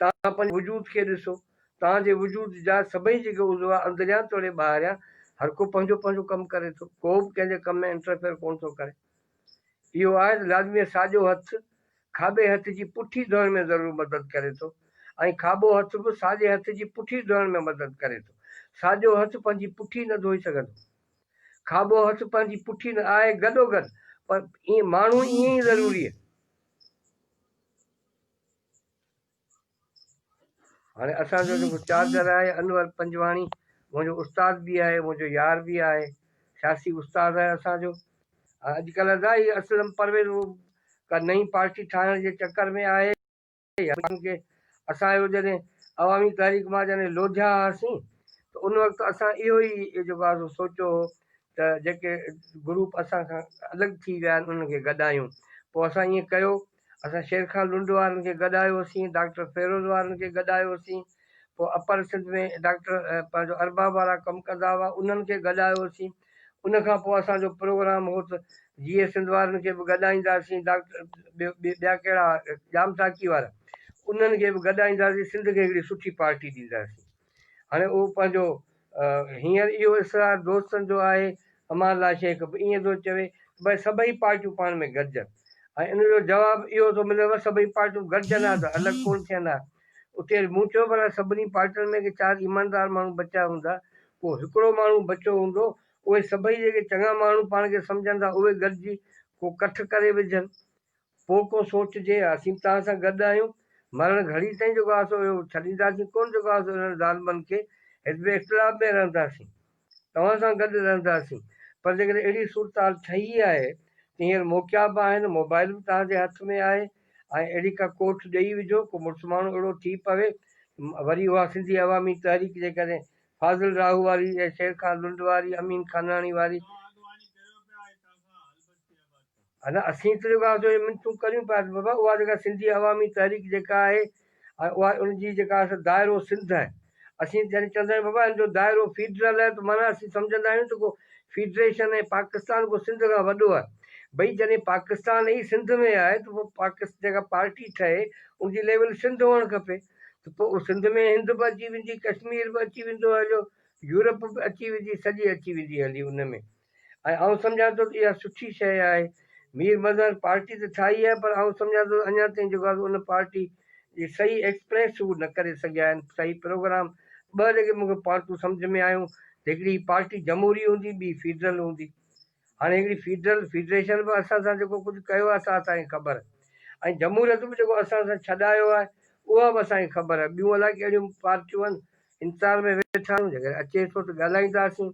توهان پنهنجي وجود کي ڏسو توهان جي وجود جا سڀئي جيڪي عضوا اندريان توڙي ٻاهريان هر ڪو پنهنجو پنهنجو ڪم ڪري ٿو ڪو به ڪنهن جي ڪم ۾ انٽرفيئر ڪونه ٿو ڪري اهو آهت لازمي ساڄو هٿ کاٻي هٿ جي پٺي ڌوئڻ ۾ ضرور مدد ڪري ٿو ۽ کاٻو هٿ به ساڄي هٿ جي پٺي ڌوئڻ ۾ مدد ڪري ٿو. ساڄو هٿ پنهنجي پٺي نه ڌوئي سگهندو. کاٻو هٿ پنهنجي پٺي نه آهي گڏوگڏ پر ماڻهو ائين ئي ضروري هاڻي اسان جو جيڪو چارجر آهي انور پنجواڻي منهنجو استاد به آهي منهنجو يار به آهي سياسي استاد آهي اسان جو اڄڪلهه دا هي اسلم پرويز ڪا نئين پارٽي ٺاهڻ جي چڪر ۾ آهي کي اسان جو جڏهن عوامي تحريڪ مان جڏهن لوڌيا هئاسين ته ان وقت اسان اهو ئي جيڪو آهي سوچيو هو ته جيڪي گروپ اسان کان الڳ ٿي ويا آهن انهن کي گڏايون پوء اسان ائين ڪيو اسان شير خان لنڊ وارن کي گڏ آيو سين، ڊاڪٽر فيروز وارن کي گڏ آيو سين، پوء اپر سنڌ ۾ ڊاڪٽر پنهنجو ارباب وارا ڪم ڪندا هئا انهن کي گڏ آيو سين، ان کان پوء اسان جو پروگرام هو ته جيئي سنڌ وارن کي به گڏ آئيندا سين، ڊاڪٽر ٻيا ڪهڙا ڄام ساقي وارا انهن کي به گڏ آئيندا سين، سنڌ کي هڪڙي سٺي پارٽي ڏيندا سين. هاڻي اهو پنهنجو هينئر اهو اصرار دوستن جو آهي، امان الله شيخ به ائين ٿو چوي ته ڀاء سڀئي پارٽيون پاڻ ۾ گڏجن ۽ ان جو جواب اهو ٿو ملي ته سڀئي پارٽيون گڏجن ها ته الڳ ڪونه ٿين ها. اتي مون چيو ڀلا سڀني پارٽين ۾ ڪي چار ايماندار ماڻهو بچيا هوندا، ڪو هڪڙو ماڻهو بچيو هوندو، اهي سڀئي جيڪي چڱا ماڻهو پاڻ کي سمجهن ٿا اهي گڏجي ڪو ڪٺ ڪري وجهن. پوء ڪو سوچجي، اسين به توهان سان گڏ آهيون، مرڻ گهڙي تائين جيڪو آسو هيو، ڇڏينداسين ڪونه، جيڪو آسو هنن ظالمن کي، حزب اختلاف ۾ رهنداسين، توهان سان گڏ رهنداسين، پر جيڪڏهن اهڙي صورتحال ٺهي آهي ته هينئر موقعا به آهن، موبائل به توهان جي هٿ ۾ آهي، ۽ اهڙي ڪا ڪوٺ ڏيئي وجهو، ڪو مڙس ماڻهو اهڙو ٿي پوي، وري اها سنڌي عوامي تحريڪ جيڪڏهن فاضل راهو واري يا شير خان لنڊ واري، امين خاناڻي واري. ادا اسين ته رڳو آپتو جي منتون ڪريون پيا ته بابا اها جيڪا سنڌي عوامي تحريڪ جيڪا آهي اها ان جي جيڪا سا دائرو سنڌ آهي اسين جڏهن چوندا آهيون بابا ان جو دائرو فيڊرل آهي ته معنيٰ اسين سمجهندا آهيون ته ڪو فيڊريشن ۽ پاڪستان ڪو سنڌ کان وڏو آهي ڀئي جڏهن پاڪستان ئي سنڌ ۾ آهي ته پوء پاڪ جيڪا پارٽي ٺهي ان جي ليول سنڌ هئڻ کپي ته پوء سنڌ ۾ هند به اچي ويندي ڪشمير به اچي ويندو هليو يورپ به اچي ويندي سڄي اچي ويندي هلي ان ۾ ۽ آئون سمجهان ٿو ته اها سٺي شيء آهي. مير مظهر پارٽي ته ٺاهي آهي پر آئون سمجهان ٿو ته اڃا تائين جيڪو ان پارٽي جي صحيح ايڪسپريس هو نه ڪري سگهيا آهن، صحيح پروگرام. ٻه جيڪي مون کي پارٽون سمجهه ۾ آيون ته هڪڙي هي پارٽي جمهوري هوندي ٻي فيڊرل هوندي. هاڻي هڪڙي فيڊرل، فيڊريشن، به اسان سان جيڪو ڪجهه ڪيو آهي سا اسان کي خبر آهي ۽ جمهوريت به جيڪو اسان سان ڇڏايو آهي اها به اسان کي خبر آهي. ٻيون الاء ڪهڙيون پارٽيون آهن انتظار ۾ ويٺا آهيون جيڪڏهن اچي ٿو ته ڳالهائينداسين.